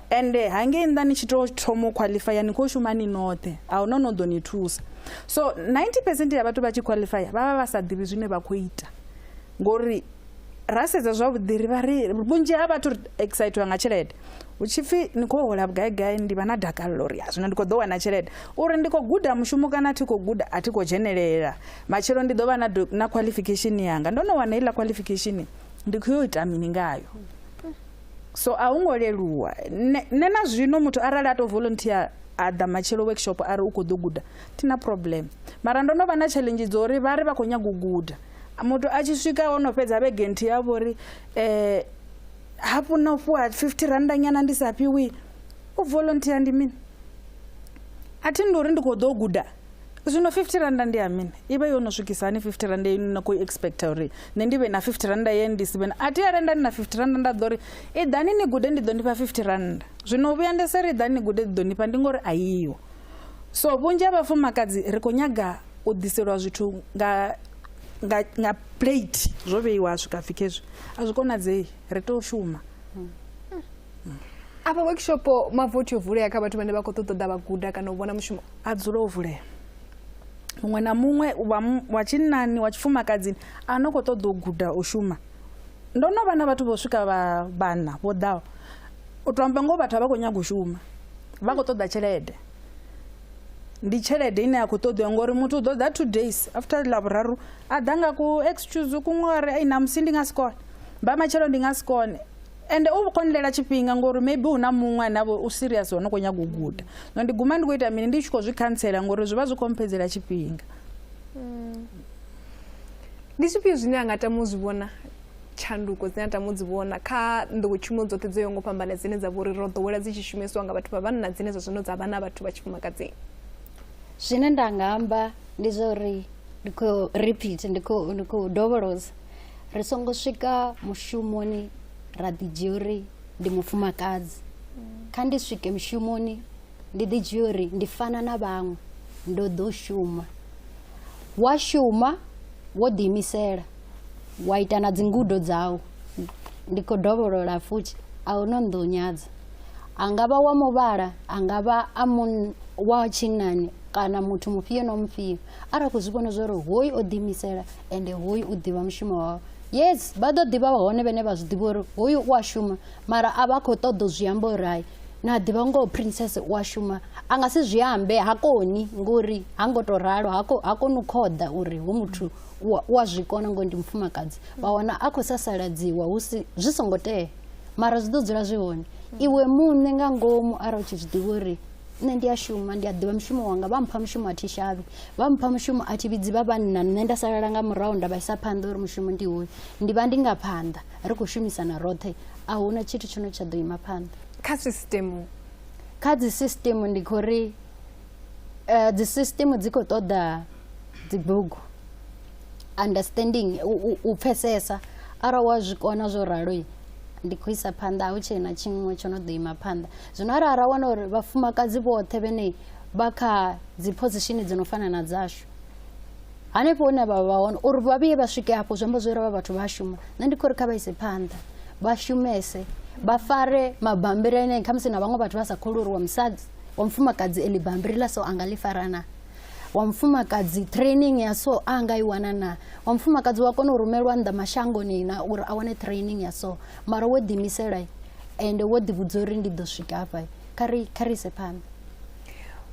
ende hangei nnḓa ni tshi tou thoma u khwaḽifaya ni khou shuma ni noṱhe a hu no no ḓo ni thusa so 90 percent ya vhathu vha tshi khwaḽifaya vha vha vha sa ḓivhi zwine vha khou ita ngori ra sedza zwavhuḓi ri vha ri vhunzhi ha vhathu ri excitiwa nga tshelede hu tshi pfhi ni khou hola vhugaigai ndi vha na dakalelo uri zwino ndi khou ḓo wana tshelede uri ndi khou guda mushumo kana a thi khou guda a thi khou dzhenelela matshelo ndi ḓo vha na, na qualification yanga ndo no wana heiḽa qualification ndi khou yo ita mini ngayo so a hu ngo leluwa nṋe na zwino muthu arali a tou volunteer a ḓa matshelo workshop a ri u khou ḓo guda thi na problem mara ndo no vha na challenge dzo uri vha ri vha khou nyaga u guda muthu a tshi swika o no fhedza vhege nthihi ya vho ri um hafhu na u fhiwa fifty randa nyana ndi sa fhiwi u volunteer ndi mini a thi ndi uri ndi khou ḓo guda zwino 50 randa ndi ya mini i vha yo no swikisa hani 50 randa ye na khou expecta uri nṋe ndi vhe na 50 randa ye ndi si vhe na a thi ya renda ndi na 50 randa nda ḓo ri i ḓani ni gude ndi ḓo nifha 50 randa zwino u vhuya ndi se ri ḓani ni gude ndi ḓo nifha ndi ngori a yiho so vhunzhi ha vhafumakadzi ri khou nyaga u ḓiselwa zwithu nga nga nga plate zwo vheiwa ha swika pfhi khezwi a zwi konadzei ri tea u shuma afha workshop mavothi o vulea kha vhathu vhane vha khou ṱoḓa ḓa vha guda kana u vhona mushumo a dzule o vulea muṅwe na muṅwe wa tshinnani wa tshifumakadzini a no khou ṱoḓa u guda u shuma ndo no vha na vhathu vho swika vhana vho ḓaho u to amba ngoho vhathu a vha khou nyaga u shuma vha khou ṱoḓa tshelede ndi tshelede ine ya khou ṱoḓiwa ngori muthu u ḓo ḓa two days after lavhuraru a ḓa nga ku excuse kuṅwe a ri na musi ndi nga si kone vha matshelo ndi nga si kone ende u khou nilela tshifhinga ngori maybe hu na muṅwe ane avha u serious wa no khou nyaga u guda no ndi guma ndi khou ita mini ndi tshi khou zwi khantsela ngori zwi vha zwi khou mphedzela tshifhinga mm. ndi zwifhio zwine a nga tama u zwi vhona tshanduko dzine a tama u dzi vhona kha nḓowetshumo dzoṱhe dzo yo ngo fhambana dzine dza vha uri ro ḓowela dzi tshi shumisiwa nga vhathu vha vhanna dzine zwa zwino dza vha na vhathu vha tshifumakadzini zwine nda nga amba ndi zwa uri ndi khou repeat ndi khou dovholoza ri songo swika mushumoni ra ḓi dzhia uri ndi mufumakadzi kha ndi swike mushumoni ndi ḓi dzhia uri ndi fana na vhaṅwe ndo ḓo shuma wa shuma wo ḓiimisela wa ita na dzingudo dzau ndi khou dovholola futhi a hu no nḓo nyadza a nga vha wa muvhala a nga vha a wa tshinnani kana muthu mufhio na mufhio arali khou zwi vhona zwori hoyu o ḓiimisela ende hoyu u ḓivha mushumo wawe yes vha ḓo ḓivha hone vhene vha zwi ḓivha uri hoyu u a shuma mara a vha khou ṱoḓa u zwi amba uri hai na ḓivha ngoho princess u a shuma a nga si zwi ambe ha koni ngori ha ngo tou ralo ha koni u khoḓa uri hu muthu u a zwi kona ngori ndi mufumakadzi vha wana a khou sasaladziwa zwi songo tea mara zwi ḓo dzula zwi hone iwe muṋe nga ngomu arali u tshi zwi ḓivha uri nṋe ndi a shuma ndi a ḓivha mushumo wanga vha mpha mushumo a thi shavhi vha mpha mushumo a thi vhidzi vha vhanna nṋe nda salala nga murahu nda vha isa phanḓa uri mushumo ndi hoyu ndi vha ndi nga phanḓa ri khou shumisana roṱhe a hu na tshithu tsho no tsha ḓo ima phanḓa kha sisitemu kha dzi sisitemu ndi khou ri eh, dzi sisitemu dzi khou ṱoḓa dzibugu understanding u pfesesa arali wa zwi kona zwo ralo ndi khou isa phanḓa hu tshee na tshiṅwe tsho no ḓo ima phanḓa zwino arali ra wana uri vhafumakadzi vhoṱhe vhene vha kha dzi position dzi no fana na dzashu hanefho hune vha vha hone uri vha vhuye vha swike hafho zwi amba zwo ri vha vhathu vha shuma nṋe ndi khou ri kha vha ise phanḓa vha shumese vha fare mabambiri ane khamusi na vhaṅwe vhathu vha sa khou uri wa musadzi wa mufumakadzi eḽi bambiri ḽa so a nga ḽi farana wa mufumakadzi training ya so a nga i wana na wa mufumakadzi wa kona u rumelwa nnḓa mashangoni na uri a wane training ya so mara wo ḓiimisela ende wo ḓivhudza uri ndi ḓo swika hafha kha ri kha ri ise phanḓa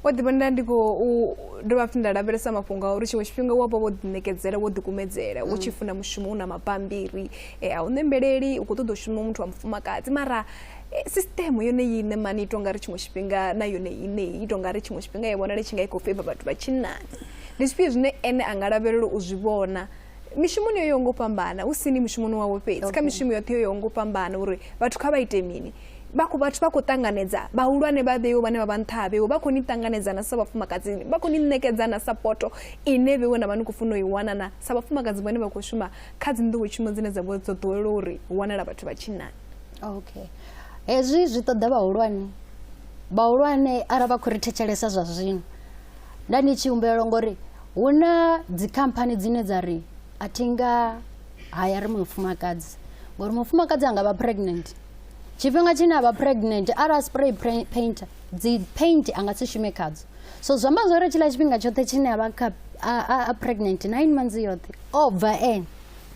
wo ḓi vhonela ndi khou dovha futhi nda lavhelesa mafhungo a uri tshiṅwe tshifhinga wa vha wo ḓiṋekedzela wo ḓikumedzela u tshi mm. funa mushumo u na mabambiri eh, a u ṋembeleli u khou ṱoḓa u shuma muthu wa mufumakadzi mara Eh, sisitemu yone iṋe mani i tonga ri tshiṅwe tshifhinga na yone iṋe i tonga ri tshiṅwe tshifhinga i vhonale tshi nga i khou feiva vhathu vha tshinnani ndi zwifhio zwine ene a nga lavhelela u zwi vhona mishumoni yo yaho ngo fhambana hu sini mushumoni wavho fhedzi kha mishumo yoṱhe yo yaho ngo fhambana uri vhathu kha vha ite mini vha khou vhathu vha khou ṱanganedza vhahulwane vha vheiwe vhane vha vha nṱha ha vheiwe vha khou ni ṱanganedzana sa vhafumakadzini vha khou ni ṋekedzana sapoto ine vheiwe na vha ni khou funa u i wana na sa vhafumakadzi vhane vha khou shuma kha dzi nḓowetshumo dzine dza vho dzo ḓowela uri hu wanala vhathu vha tshinnani okay hezwi zwi ṱoḓa vhahulwane vhahulwane arali vha khou ri thetshelesa zwa zwino nda ni tshi humbela ngori hu na dzikhamphani dzine dza ri a thi nga haya ri mufumakadzi ngori mufumakadzi a nga vha pregnant tshifhinga tshine a vha pregnant arali spray painter dzi paint a nga si shume khadzo so zwi amba zwori tshiḽa tshifhinga tshoṱhe tshine a vha kha a pregnant nine months yoṱhe o bva ene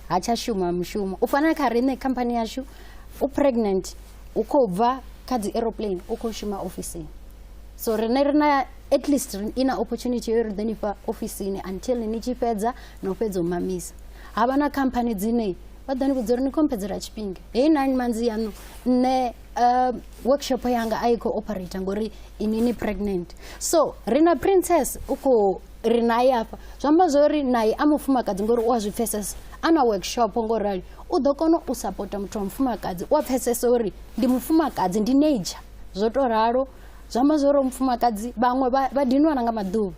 ha tsha shuma mushumo u fana kha riṋe khamphani yashu u pregnant u khou bva kha dzi aeroplane u khou shuma ofisini so riṋe ri na at least i na opportunity yo ri ḓo ni fha ofisini until ni tshi fhedza na u fhedza u mamisa ha vha na khamphani dzine vha ḓo ni vhudza uri ni khompedzela tshifhinga heyi nine manzi yaṋu nṋe uh, workshop yanga a i khou operator ngori inini pregnant so ri na princess u khou ri naye afha zwi amba zwo ri naye a mufumakadzi ngori u a zwi pfesesa a na workshop ngo rali u ḓo kona u sapota muthu wa mufumakadzi u a pfesesa uri ndi mufumakadzi ndi nature zwo to ralo zwi amba zwo ri mufumakadzi vhaṅwe vha dinwana nga maḓuvha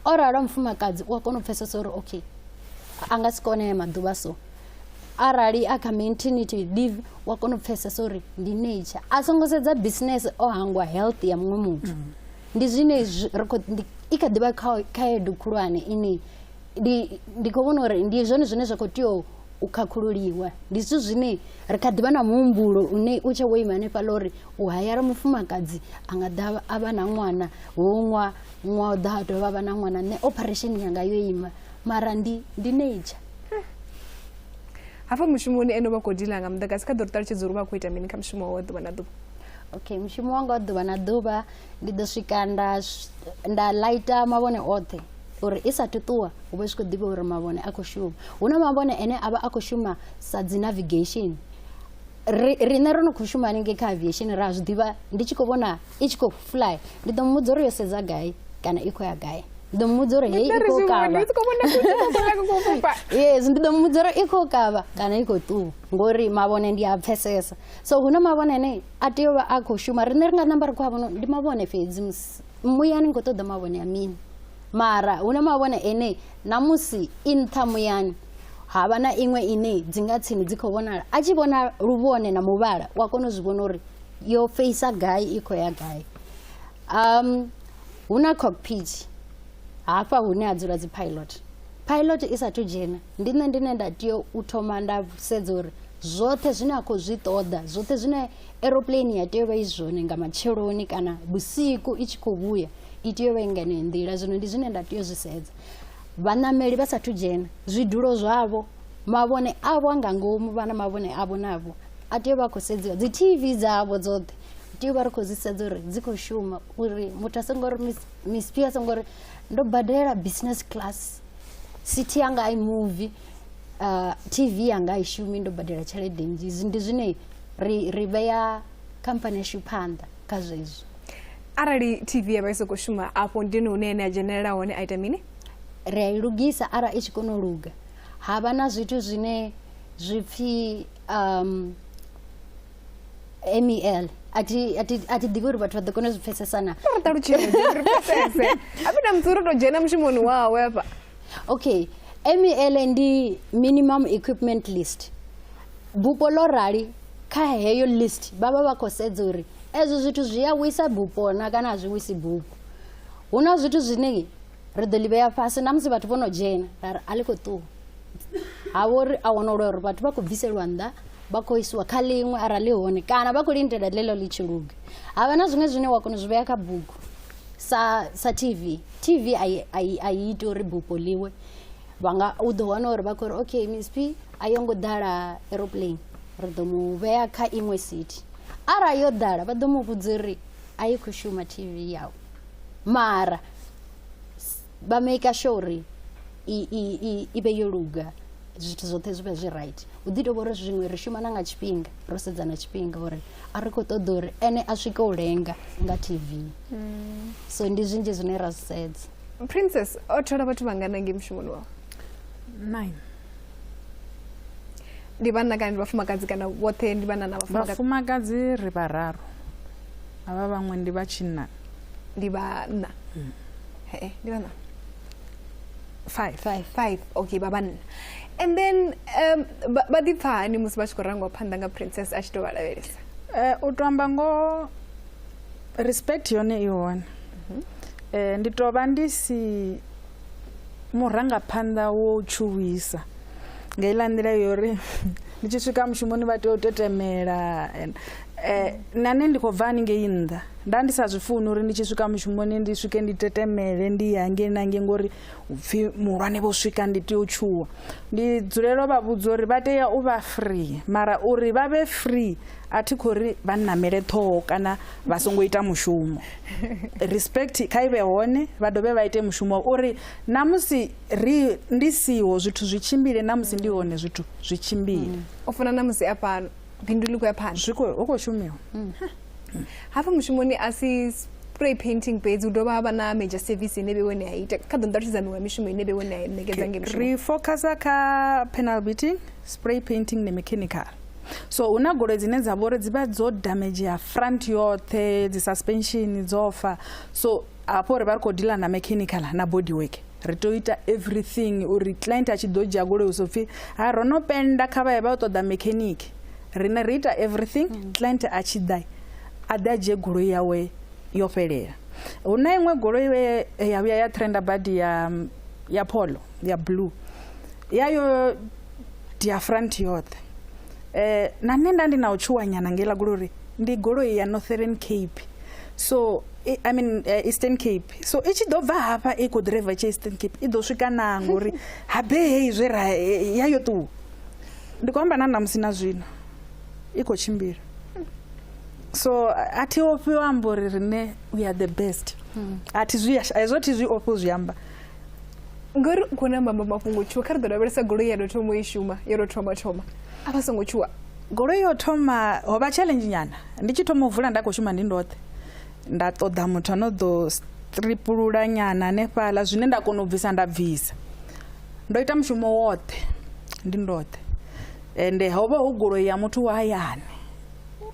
o ralo mufumakadzi u a kona u pfesesa uri okay a nga si kone ya maḓuvha so arali a kha maintenity leave u a kona u pfesesa uri ndi nature a songo sedza business o hangwa health ya muṅwe muthu mm. ndi zwine ri kho i kha ḓivha kha khaedu khulwane ine ndi ndi kho vhona uri ndi zwone zwine zwa kho tea u khakhululiwa ndi zwithu zwine ri kha ḓivha na muhumbulo une u tshe wo ima hanefhaḽa uri u hayara mufumakadzi a nga ḓa a vha na ṅwana wo ṅwa ṅwa u ḓa a dovha vha na ṅwana nṋe operation yanga yo ima mara ndi ndi nature hafha mushumoni ene vha khou dila nga muḓagasi kha ḓo ri ṱalutshedza uri vha khou ita mini kha mushumo wa ḓuvha na ḓuvha okay mushumo wanga wa ḓuvha na ḓuvha ndi ḓo swika nda nda laita mavhone oṱhe uri i sa tuṱuwa hu vha zwi khou ḓivha uri mavhone a khou shuma hu na mavhone ane a vha a khou shuma sa dzi navigation riṋe ro no khou shuma haningei kha aviation ra zwi ḓivha ndi tshi khou vhona i tshi khou fly ndi ḓo muvhudza uri yo sedza gai kana i khou ya gai ndi ḓo muvhudza uri hei i khou kavha yes ndi ḓo muvhudza uri i khou kavha kana i khou ṱuwa ngori mavhone ndi a pfesesa so hu na mavhone ane a tea u vha a khou shuma riṋe ri nga namba ri khou a vhona ndi mavhone fhedzi musi muyani ni khou ṱoḓa mavhone ya mini mara hu na mavhone ene namusi i nṱha muyani ha vha na iṅwe ine dzi nga tsini dzi khou vhonala a tshi vhona luvhone na muvhala u a kona u zwi vhona uri yo feisa gai i khou ya gai um hu na cockpit hafha hune ha dzula dzi pilot pilot i sathu dzhena ndi nṋe ndine nda tea u thoma nda sedza uri zwoṱhe zwine a khou zwi ṱoḓa zwoṱhe zwine aeroplane ya tea u vha i zwone nga matsheloni kana vhusiku i tshi khou vhuya i tea u vha i nḓila zwino ndi zwine nda tea u zwi sedza vhaṋameli vha sathu dzhena zwidulo zwavho mavhone avho a nga ngomu vha na mavhone avho navho a tea u vha khou sedziwa dzi tv dzavho dzoṱhe tea u vha ri khou zwi sedza uri dzi khou shuma uri muthu a songo ri misp a songo ri ndo badela business class city yanga i movie uh, tv yanga i shumi ndo badela tshelede nnzhi ndi zwine ri ri vhea khamphani yashu phanḓa kha zwezwo arali tv ya vha i sokou shuma afho ndini hune ene a dzhenelela hone a ita mini ri a i lugisa arali i tshi kona u luga ha vha na zwithu zwine zwi pfhi um MEL a thi a thi a thi ḓivhi uri vhathu vha ḓo kona u zwi pfesesa na ri ṱalutshedze ri pfesese a vhi na muthu uri tou dzhena mushumoni wawe hafha okay MEL ndi minimum equipment list bupo ḽo rali kha heyo list vha vha vha khou sedza uri ezwo zwithu zwi a wisa bupo na kana a zwi wisi bupo hu na zwithu zwine ri ḓo ḽi vhea fhasi na musi vhathu vho no dzhena ra ri a ḽi khou ṱuwa ha vha uri a wana uri vhathu vha khou bviselwa nnḓa vha khou isiwa kha ḽiṅwe arali hone kana vha khou lindela ḽeḽo ḽi tshi luga ha vha na zwiṅwe zwine wa kona u zwi vhea kha bugu sa sa tv tv a i iti uri bupo ḽiwe vha nga u ḓo wana uri vha khou ri okay misp a yo ngo ḓala aeroplane ri ḓo mu vhea kha iṅwe city arali yo ḓala vha ḓo mu vhudza uri a yi khou shuma tv yawe mara s- vha maker sure uri i- i- i- i vhe yo luga zwithu zwoṱhe zwi vhe zwi right hu ḓi tovha uri zwiṅwe ri shuma na nga tshifhinga ro sedza na tshifhinga uri a ri khou ṱoḓa uri ene a swike u lenga nga tv so ndi zwinzhi zwine ra zwi sedza princess o thola vhathu vhangana ngei mushumoni wawe nine ndi vhanna kana ndi vhafumakadzi kana vhoṱhe ndi vhanna na vhafumakadzi vhafumakadzi ri vhararu avha vhaṅwe ndi vha tshinna ndi vhanna mm. hee ndi vhanna five five five okay vha vhanna and then um, vha ḓi pfha hani musi vha tshi khou rangiwa phanḓa nga princess a tshi tou vha lavhelesa eh, u tou amba ngo respect yone i hone mhm. eh, ndi tou vha ndi si murangaphanḓa wo tshuwisa nga iḽa nḓila yori ndi tshi swika mushumoni vha tea u tetemela Eh, na nṋe ndi khou bva haningei nnḓa nda ndi sa zwi funi uri ndi tshi swika mushumoni ndi swike ndi tetemele ndi ya ngei na ngei ngori upfhi muhulwane vho swika ndi tea u tshuwa ndi dzulelo vha vhudza uri vha tea u vha free mara uri vha vhe free a thi khou ri vha nnamele ṱhoho kana vha songo ita mushumo respect kha i vhe hone vha dovhe vha ite mushumo uri na musi ri ndi siho zwithu zwi tshimbile na musi ndi hone zwithu zwi tshimbile u fana na musi a fhano bindu ḽi khou ya phanḓa zwi khou- hu khou shumiwa Mm. hafha mushumoni a si spray painting fhedzi hu dovha ha vha na major service ine vhe wene a ita kha ḓo nṱalutshedza miṅwe ya mishumo ine vhe wene a ṋekedza nge mishumo ri focusa kha panel beating spray painting ne mechanical so hu na goloi dzine dza vhori dzi vha dzo damagea front yoṱhe dzi suspension dzo fa so hafho ri vha ri khou dealer na mechanical na body work ri tea u ita everything uri client a tshi ḓo dzhia goloi so pfhi ha ro no penda kha vha ye vha yo ṱoḓa mechanic rine ri ita everything mm. client a tshi ḓa a ḓe a dzhie goloi yawe yo fhelela hu na iṅwe goloi ya vhuya ya trenda badi ya ya polo ya blue yayo dia front yoṱhe um na nṋe nda ndi na u tshuwanyana ngeiḽa goloi uri ndi goloi ya northern cape so i, i mean uh, eastern cape so i tshi ḓo bva hafha i khou driver tshi eastern cape i ḓo swika naa ngori habe heyi zwe ra eh, ya yo ṱuwa ndi khou amba na namusi na zwino i khou tshimbila so a thi ofhi u amba uri rine we are the best a thi zwi hezwo thi zwi ofhi u zwi amba ngori u khou namba mafhungo tshuwa kha ri ḓo lavhelesa goloi ya tou thoma u i shuma yo tou thoma thoma a vha songo tshuwa goloi yo thoma ho vha challenge nyana ndi tshi thoma u vula nda khou shuma ndi ndoṱhe nda ṱoḓa muthu ano ḓo stripulula nyana hanefhaḽa zwine nda kona u bvisa nda bvisa ndo ita mushumo woṱhe ndi ndoṱhe ende ho vha hu goloi ya muthu wa hayani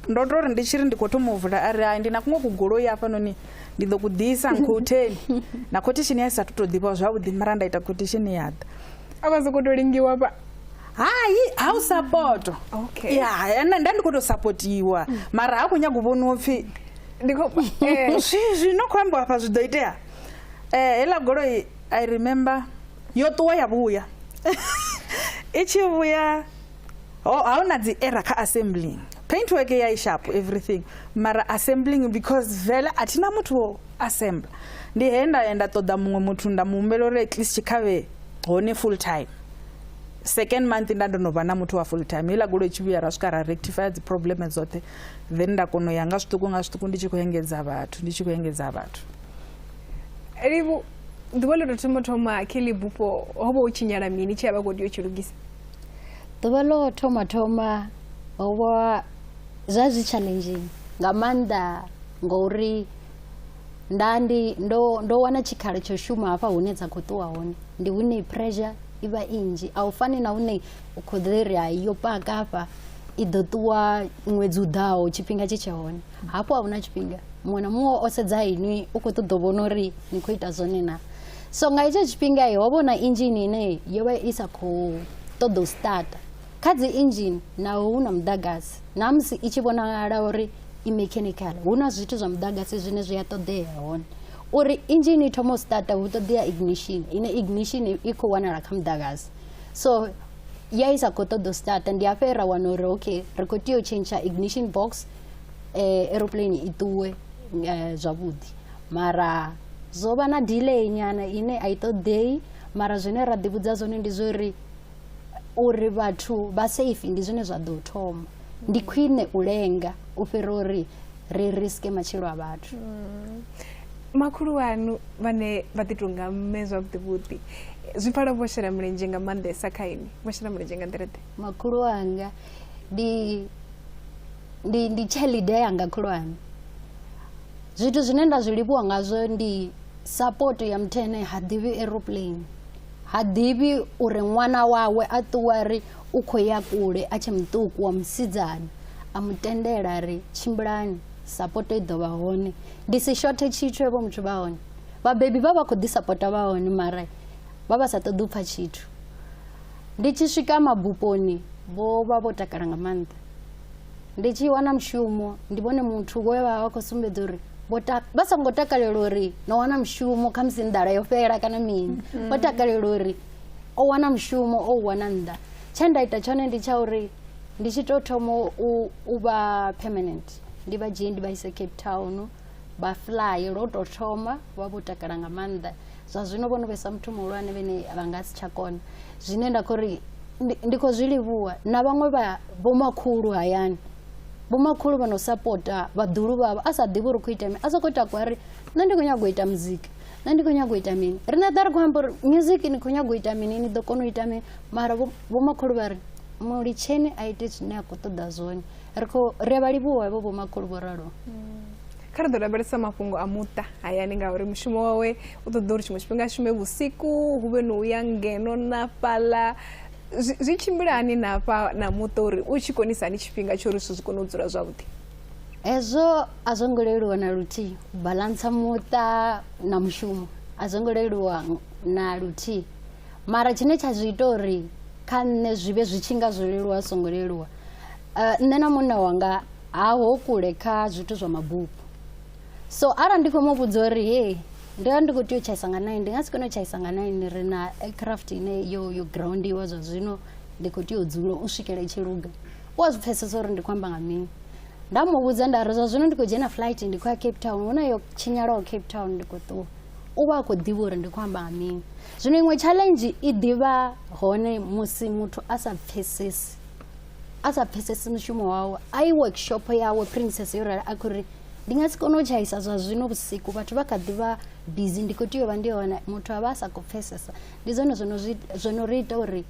ndo to ri ndi tshi ri ndi khou thoma u vula a ri hai ndi na kuṅwe kugoloi hafhanoni ndi ḓo ku ḓisa nkhotheni na khothishini ya i sa thu to ḓivha zwavhuḓi mara nda ita khothishini ya ḓa a vha sokou to lingiwa vha hai ha u sapoto Okay. ya ya, nda nda ndi khou tou sapotiwa mara ha khou nyaga u vhoniwa pfhi ndi khou eh, zwi- zwino khou ambiwa afha zwi ḓo itea Eh, heiḽa goloi i remember yo ṱuwa ya vhuya i tshi vhuya ho- ha una dzi error kha assembling paint work ya ishapo everything mara assembling because vele a thina muthu wo assembla ndi he nda ya nda ṱoḓa muṅwe muthu nda mu humbela uri at least tshikhavhe hone full time second month nda ndo no vha na muthu wa full time heiḽa goloi tshi vhuya ra swika ra rectify dzi problem dzoṱhe then nda kona u ya nga zwiṱuku nga zwiṱuku ndi tshi khou engedza vhathu ndi tshi khou engedza vhathu livhu ḓuvha ḽo tou thoma thoma kelly bufho ho vha u tshinyala mini tshi a vha khou tea u tshi lugisa ḓuvha ḽo thoma thoma ho vha zwa zwi challenging nga maanḓa ngauri nda ndi ndo ndo wana tshikhala tsho shuma hafha hune dza khou ṱuwa hone ndi hune pressure i vha i nnzhi a u fani na hune u khou ḓi ri hai yo paka hafha i ḓo ṱuwa ṅwedzi u ḓaho tshifhinga tshi tshe hone hafho a huna tshifhinga muṅwe na muṅwe o sedza inwi u khou ṱoḓa u vhona uri ni khou ita zwone na so nga hetsho tshifhinga ho vhona inzhini ine yo vha i sa khou ṱoḓa u starta Kha dzi engine naho hu na muḓagasi, na musi i tshi vhonala uri i mechanical, hu na zwithu zwa muḓagasi zwine zwi a ṱoḓea hone. Uri engine i thome u starta hu ṱoḓea ignition, ine ignition i khou wanala kha muḓagasi. So ya i sa khou ṱoḓa u starta ndi hafhe ra wana uri okay ri khou tea u tshentsha ignition box eh, aeroplane i ṱuwe eh, zwavhuḓi mara zwo vha na delay nyana ine a i ṱoḓei mara zwine ra ḓivhudza zwone ndi zwo ri uri vhathu vha safe ndi zwine zwa ḓo thoma ndi khwine u lenga u fhira uri ri riske matshilo a vhathu mm. makhulu wanu vhane vha ḓi tonga mme zwavhuḓivhuḓi zwi pfala vho shela mulenzhe nga maanḓesa kha ini vho shela mulenzhe nga nḓila ḓe makhulu wanga ndi ndi ndi tshelede yanga khulwane zwithu zwine nda zwi livhuwa ngazwo ndi support ya mthene ha ḓivhi aeroplane Ha ḓivhi uri ṅwana wawe a ṱuwa a ri u khou ya kule a tshe muṱuku wa musidzana, a mu tendela a ri, Tshimbilani, sapoto i ḓo vha hone. Ndi si shothe tshithu evho muthu vha hone. Vhabebi vha vha khou ḓi sapota vha hone mara vha vha sa ṱoḓi u pfa tshithu. Ndi tshi swika mabuponi vho vha vho takala nga maanḓa. ndi tshi wana mushumo ndi vhone muthu we vha vha khou sumbedza uri vha songo takalela uri no wana mushumo kha musi nḓala yo fhela kana mini mm. vho takalela uri o wana mushumo o u wana nnḓa tshe nda ita tshone ndi tsha uri ndi tshi tou thoma u vha permanent ndi vha dzhie ndi vha ise cape town vha fly lwo tou thoma vha vho takala nga maanḓa zwa zwino vho no vhesa muthu muhulwane vhene vha nga si tsha kona zwine nda khou ri ndi khou zwi livhuwa na vhaṅwe vha vhomakhulu hayani vhomakhulu vha no sapota vhaḓulu vhavho a sa ḓivhi uri khou ita mini a sokou takwa ri nṋe ndi khou nyaga u ita muzika nṋe ndi khou nyaga u ita mini riṋe ḓa ri khou amba uri music ni khou nyaga u ita mini ni ḓo kona u ita mini mara vhomakhulu vha ri mulitsheni a ite zwine a khou ṱoḓa zwone ri khou ri a vha livhuwa hevho vhomakhulu vho ralo kha ri ḓo lavhelesa mafhungo a muṱa hayani ngauri mushumo wawe u ṱoḓa uri tshiṅwe tshifhinga shume vhusiku hu vhe no uya ngeno na fhaḽa zwi tshimbila hani na fha na muṱa uri u tshi konisa hani tshifhinga tsho uri zwithu zwi kone u dzula zwavhuḓi hezwo a zwo ngo leluwa na luthihi u balantsa muṱa na mushumo a zwo ngo leluwa na luthihi mara tshine tsha zwi ita uri kha nṋe zwi vhe zwi tshi nga zwo leluwa zwi songo leluwa uh, nṋe na munna wanga ha ho kule kha zwithu zwa mabupo so arali ndi khou mu vhudza uri he ndi vha ndi khou tea u tshaisa nga nine ndi nga si kone u tshaisa nga nine ri na aircraft ine yo yo groundiwa zwa zwino ndi khou tea u dzula u swikela i tshi luga u a zwi pfesesa uri ndi khou amba nga mini nda mu vhudza nda ri zwa zwino ndi khou dzhena flight ndi khou ya cape town hu na yo tshinyalaho cape town ndi khou ṱuwa u vha a khou ḓivha uri ndi khou amba nga mini zwino iṅwe challenge i ḓivha hone musi muthu a sa pfesesi a sa pfesesi mushumo wawe a i workshop yawe princess yo rali a khou ri ndi nga si kone u tshaisa zwa zwino vhusiku vhathu vha kha ḓi vha busy ndi khou tea u vha ndi hone muthu a vha a sa khou pfesesa ndi zwone zwo no zwi- zwo no ri ita uri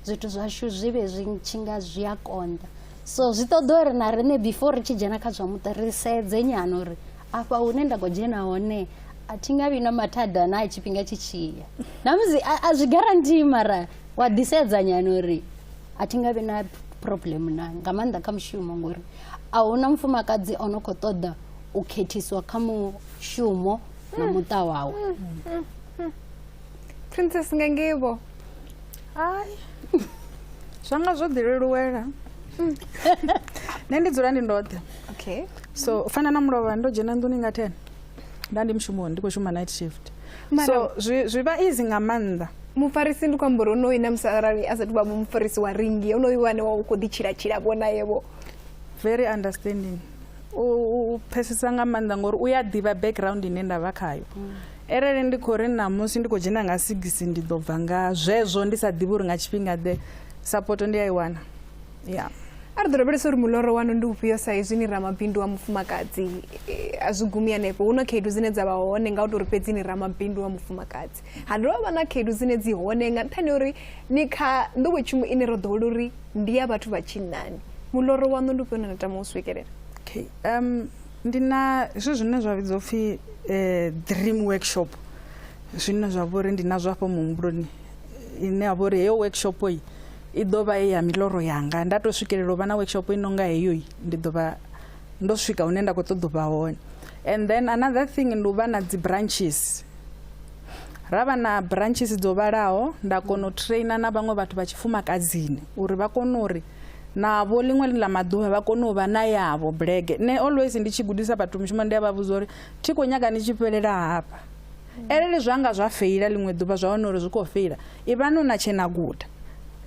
zwithu zwashu zwi vhe zwi tshi nga zwi a konḓa so zwi ṱoḓa uri na riṋe before ri tshi dzhena kha zwa muṱa ri sedze nyana uri afha hune nda khou dzhena hone a thi nga vhi na mathada na tshifhinga tshi tshiya na musi a a zwi guarantee mara wa ḓisedza nyana uri a thi nga vhi na problem na nga maanḓa kha mushumo ngori a huna mufumakadzi o no khou ṱoḓa u khethiswa kha mushumo na muṱa wawe princess nga ngeivo ai zwa nga zwo ḓi leluwela nṋe ndi dzula ndi ndoṱhe okay so u fana na mulovha ndo dzhena nḓuni nga ten nda ndi mushumoni ndi khou shuma night shift so zwi vha easy nga maanḓa mufarisi ndi khou amba uri onoyu na musi arali a sathu vha vho mufarisi wa ringi onoyu wane wa u khou ḓitshilatshila vho nayevo very understanding u pfesesa nga maanḓa ngori u ya ḓivha background ine nda vha khayo mm. arali ndi khou ri ṋamusi ndi khou dzhena nga sigisi ndi ḓo bva nga zwezwo ndi sa ḓivhi uri nga tshifhinga ḓe sapoto ndi a i wana yeah a ri ḓo lavhelesa uri muloro wanu ndi ufhio sa izwi ni ramabindu wa mufumakadzi eh, a zwi gumi hanefho hu na khaedu dzine dza vha hone nga u tou ri fhedzi ni ramabindu wa mufumakadzi ha dovha vha na khaedu dzine dzi hone nga nṱhani uri ni kha nḓowetshumo ine ro ḓowela uri ndi ya vhathu vha tshinnani muloro waṋu ndi ufhio na na tama u swikelela okay um ndi na zwithu zwine zwa vhidzwa upfhi eh, dream workshop zwine zwa vha uri ndi nazwo afho muhumbuloni ine ya vha uri heyo workshop yi i ḓo vha ye ya miloro yanga nda tou swikelela u vha na workshop i nonga heyoi ndi ḓo vha ndo swika hune nda khou ṱoḓa u vha hone and then another thing ndi u vha na dzi branches ra vha na branches dzo vhalaho nda kona u traina na vhaṅwe vhathu vha tshifumakadzini uri vha kone uri navho ḽiṅwe ḽa maḓuvha vha kone u vha na yavho bulege nṋe always ndi tshi gudisa vhathu mushumo ndi a vha vhudza uri thi khou nyaga ni tshi fhelela hafha Arali zwa nga zwa feila ḽiṅwe ḓuvha zwa wana uri zwi khou feila, ivhani hu na tshe na guda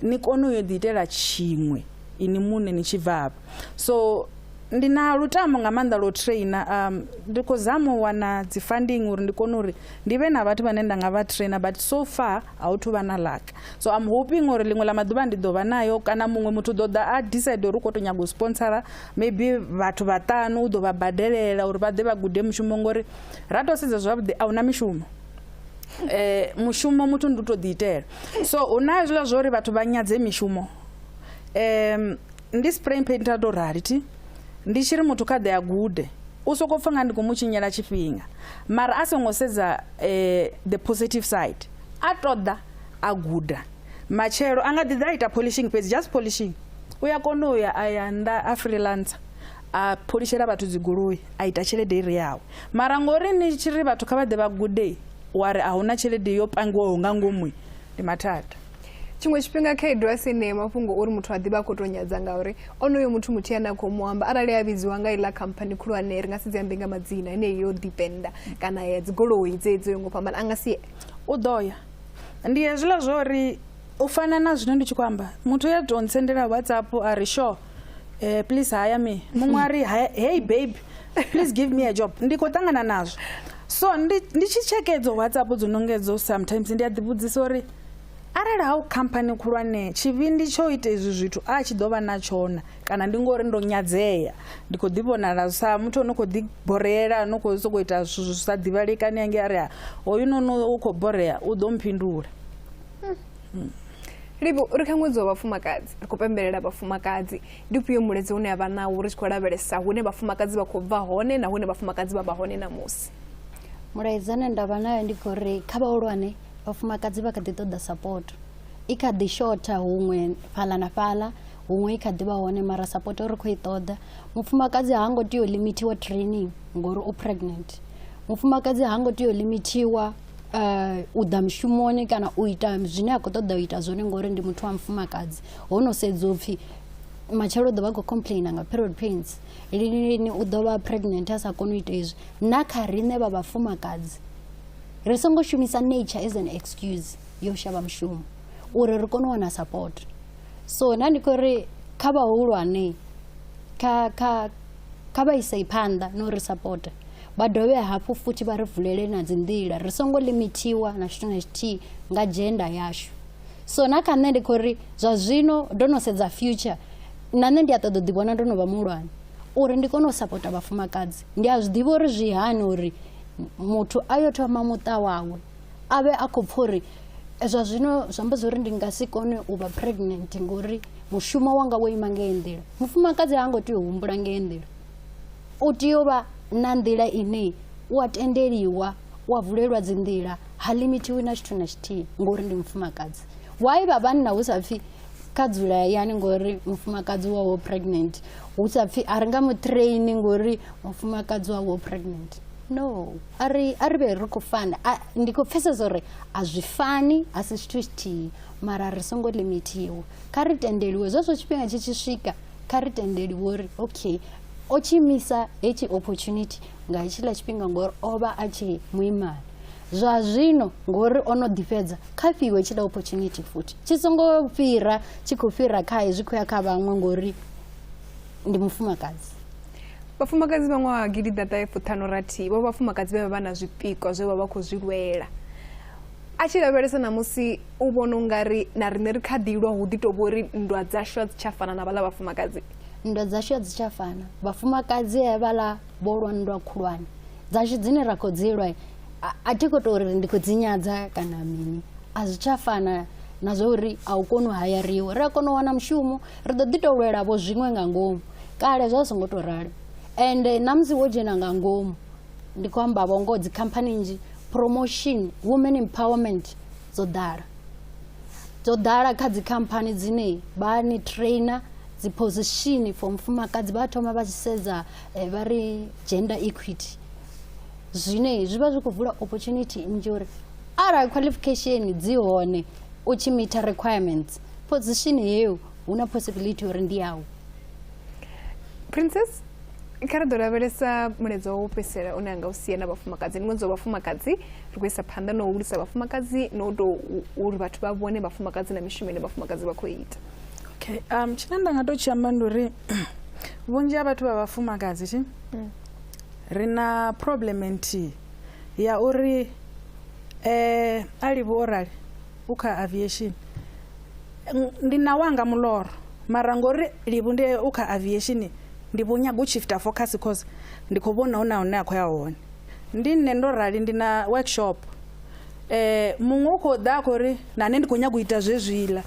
ni kone u yo ḓiitela tshiṅwe ini muṋe ni tshi bva hafha. So ndi na lutamo nga maanḓa lwo trainer um, ndi khou zama u wana dzi funding uri ndi kone uri ndi vhe na vhathu vhane nda nga vha trainer but so far a hu thu vha na luck so am hoping uri ḽiṅwe ḽa maḓuvha ndi ḓo vha nayo kana muṅwe muthu ḓo ḓa a decide uri u khou to nyaga u sponsora maybe vhathu vhaṱanu u ḓo vha badelela uri vha ḓe vha gude mushumo ngori ra to sedza zwavhuḓi a huna mishumo eh mushumo muthu ndi u to ḓi itela so hu na hezwiḽa zwa uri vhathu vha nyadze mishumo um ndi spray painter to rali thi ndi tshi ri muthu kha ḓe a gude u soko pfa nga ndi khou mu tshinyela tshifhinga mara a songo sedza um the positive side a ṱoḓa a guda matshelo a nga ḓi ḓa a ita polishing fhedzi just polishing u ya kona u ya a ya nnḓa a freelancer a pholishela vhathu dzigoloi a ita tshelede ire yawe mara ngori ni tshi ri vhathu kha vha ḓe vha gude wa ri a hu na tshelede yo pangiwaho nga ngomu ndi mathada tshiṅwe tshifhinga khaedu a si ne mafhungo uri muthu a ḓivha a khou tou nyadza ngauri onoyo muthu muthu yane a khou mu amba arali a vhidziwa nga iḽa khamphani khulwane ri nga si dzi ambe nga madzina ine yo dependa kana ya dzigoloi dzedzo yo ngo fhambana a nga si u ḓo ya ndi hezwiḽa zwo uri u fana na zwino ndi tshi khou amba muthu ya tou ntsendela whatsapp a ri sure eh, please haya me muṅwe a ri "Hi- hey babe please give me a job ndi khou ṱangana nazwo so ndi ndi tshi tsheke edzo whatsapp dzo nongedzo sometimes ndi a ḓivhudzisa uri arali ha u khamphani khulwane tshivhindi tsho ita izwi zwithu a tshi ḓo vha na tshona kana ndi ngori ndo nyadzea ndi khou ḓi vhonala sa muthu ono khou ḓi boreela no khou sokou ita zwithu zwi sa ḓivhalekani ange a ri "Ha, hoyu nono u khou borea u ḓo mphindula hmm. livho uri kha ṅwedzi wa vhafumakadzi ri khou pembelela vhafumakadzi ndi ufhio muledzi une a vha nawo ri tshi khou lavhelesa hune vhafumakadzi vha khou bva hone na hune vhafumakadzi vha vha hone namusi mulaedza une nda vha nayo ndi khou ri kha vhahulwane vhafumakadzi vha kha ḓi ṱoḓa sapoto i kha ḓi shotha huṅwe fhaḽa na fhaḽa huṅwe i kha ḓi vha hone mara sapoto ri khou i ṱoḓa mufumakadzi ha ngo tea u limithiwa training ngori u pregnant mufumakadzi ha ngo tea u limithiwa eh, u ḓa mushumoni kana u ita zwine a khou ṱoḓa u ita zwone ngori ndi muthu wa mufumakadzi ho no sedza upfhi matshelo u ḓo vha khou complaina nga period pains lini lini u ḓo vha pregnant a sa koni u ita izwi na kha riṋe vha vhafumakadzi ri songo shumisa nature as an excuse yo shavha mushumo uri ri kone u wana support so na ndi khou ri kha vhahulwane kha kha kha vha isei phanḓa no ri support vha dovhe hafhu futhi vha ri vulele na dzi nḓila ri songo limithiwa na tshithu na tshithihi nga dzhenda yashu so na kha nṋe ndi khou ri zwa zwino ndo no sedza future na nṋe ndi a ṱoḓa u ḓivhona ndo no vha muhulwane uri ndi kone u sapota vhafumakadzi ndi a zwi ḓivha uri zwi hani uri muthu a yo thoma muṱa wawe a vhe a khou pfha uri zwa zwino zwi amba zwori ndi nga si kone u vha pregnant ngori mushumo wanga wo ima ngei nḓila mufumakadzi ha ngo tea u humbula ngei nḓila U tea u vha na nḓila ine u a tendeliwa, u a vulelwa dzi nḓila, ha limithiwi na tshithu na tshithihi ngori ndi mufumakadzi. Why vha vhanna hu sa pfhi kha dzula hayani ngori mufumakadzi wawe pregnant, hu sa pfhi a ri nga mu train ngori mufumakadzi wawe pregnant. No, a ri a ri vhe ri khou fana. Ndi khou pfhesesa uri a zwi fani, a si tshithu tshithihi mara ri songo limithiwa. Kha ri tendeliwe zwezwo tshifhinga tshi tshi swika kha ri tendeli wori okay o tshi misa hetshi opportunity nga hetshiḽa tshifhinga ngori o vha a tshi muimana zwa zwino ngori o no ḓifhedza kha fhiwe tshila opportunity futhi tshi songo fhira tshi khou fhira khae zwi khou ya kha vhaṅwe ngori ndi mufumakadzi vhafumakadzi vha ṅwaha gidi ḓaṱahefuṱhanorathihi vho vhafumakadzi vhe vha vha na zwipikwa zwe vha vha khou zwi lwela a tshi lavhelesa ṋamusi u vhona ungari na riṋe ri kha ḓi lwa hu ḓi tou vho ri nndwa dzashu a dzi tsha fana na vhaḽa vhafumakadzi nndwa dzashu a dzi tsha fana vhafumakadzi vhaḽa vho lwa nndwa khulwane dzashu dzine ra khou dzi lwa a thi khou tou ri ndi khou dzi nyadza kana mini a zwi tsha fana na zwa uri a u koni u hayariwa ri a kona u wana mushumo ri ḓo ḓi tou lwelavo zwiṅwe nga ngomu kale zwa songo tou ralo ende ṋamusi wo dzhena nga ngomu ndi khou amba vho ngoho dzikhamphani nnzhi promotion women empowerment dzo ḓala dzo ḓala kha dzikhamphani dzine vha ni trainer dzi position for mufumakadzi vha thoma vha tshi sedza eh, vha ri gender equity zwine zwi vha zwi khou vula opportunity nnzhi uri arali qualification dzi hone u tshi meter requirements position yeyo hu na possibility uri ndi yau princess kha ri ḓo lavhelesa mulaedza wa u fhedzisela une anga u sia na vhafumakadzi ndi ṅwedzi wa vhafumakadzi ri khou isa phanḓa na u hulisa vhafumakadzi na u tou uri vhathu vha vhone vhafumakadzi na mishumo ine vhafumakadzi vha khou ita okay um tshine nda nga tou tshi amba ndi uri vhunzhi ha vhathu vha vhafumakadzi thi mm. ri na problem nthihi ya uri um a livhi o rali u kha aviation Ndi na wanga muloro mara ngori livhu ndi u kha aviation ndi vho nyaga u shifter focus cause ndi kho vhona huna hune a khou ya hone ndi nṋe ndo rali ndi na workshop eh muṅwe u khou ḓa a khou ri na nṋe ndi khou nyaga u ita zwezwiḽa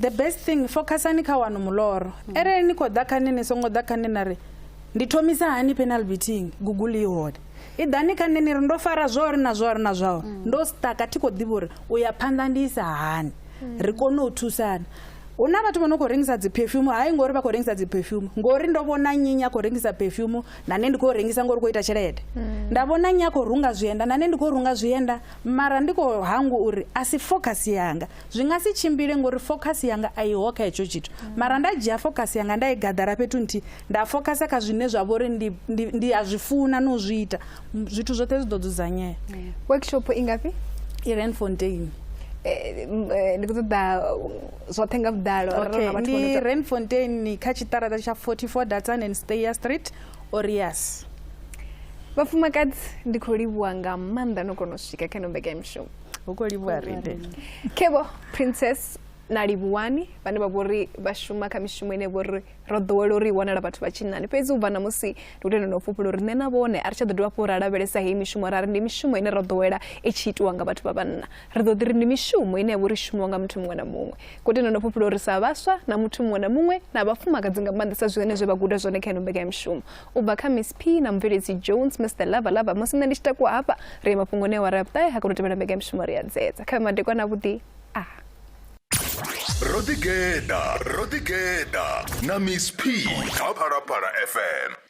the best thing focusani kha wanu muloro arali ni khou ḓa kha nṋe ni songo ḓa kha nṋe na ri ndi thomisa hani penal beating google i hone i ḓani kha nṋe ni ri ndo fara zwauri na zwauri na zwauri mm. ndo staka thi khou ḓivha uri u ya phanḓa ndi isa hani mm. ri kone u thusana hu na vhathu vho no khou rengisa dzi perfume hai ngori vha khou rengisa dzi perfume ngori ndo vhona nyinya khou rengisa perfume na nṋe ndi khou rengisa ngori khou ita tshelede mm. nda vhona nyi a khou runga zwienda na nṋe ndi khou runga zwienda mara ndi khou hangwa uri a si focus yanga zwi nga si tshimbile ngori focus yanga a iho kha hetsho tshithu mara nda dzhia focus yanga nda i gaḓara fhethu nthihi nda focus kha zwine zwa vhori ndi ndi a zwi funa no zwi ita zwithu zwoṱhe zwi ḓo dzudzanyea workshop i ngafhi i renfontein eh, eh, ndi khou ṱoḓa zwoṱhe nga vhuḓalo okay ndi renfontein kha tshiṱaraṱa tsha 44 datsan and stayer street orias vhafumakadzi ndi khou livhuwa nga maanḓa no kona u swika kha no mbekanyamushumo hu khou livhuwa riṋe kevho princess na livhuwani vhane vha vhori vha shuma kha mishumo ine vhori ro ḓowela uri i wanala vhathu vha tshinnani fhedzi u bva na musi ndi u tenda no fhufhula uri nṋe na vhone a ri tsha ḓo dovha fho ra lavhelesa heyi mishumo ra ri ndi mishumo ine ro ḓowela i tshi itiwa nga vhathu vha vhanna ri ḓo ḓi ri ndi mishumo ine ya vhori shumiwa nga muthu muṅwe na muṅwe ko tenda no fhufhula uri sa vhaswa na muthu muṅwe na muṅwe na vhafumakadzi nga maanḓesa zwi hone zwe vha guda zwone kha ino mbekanyamishumo u bva kha miss p na mubveledzi jones mr lava lava musi nṋe ndi tshi takuwa hafha ri ye mafhungoni awara ya vhuṱahe ha kono tevhela mbeka ya mishumo ri a dzedza kha vhe madekwana avhuḓi a ro ḓigeḓa ro ḓigeḓa na miss p kha phalaphala fm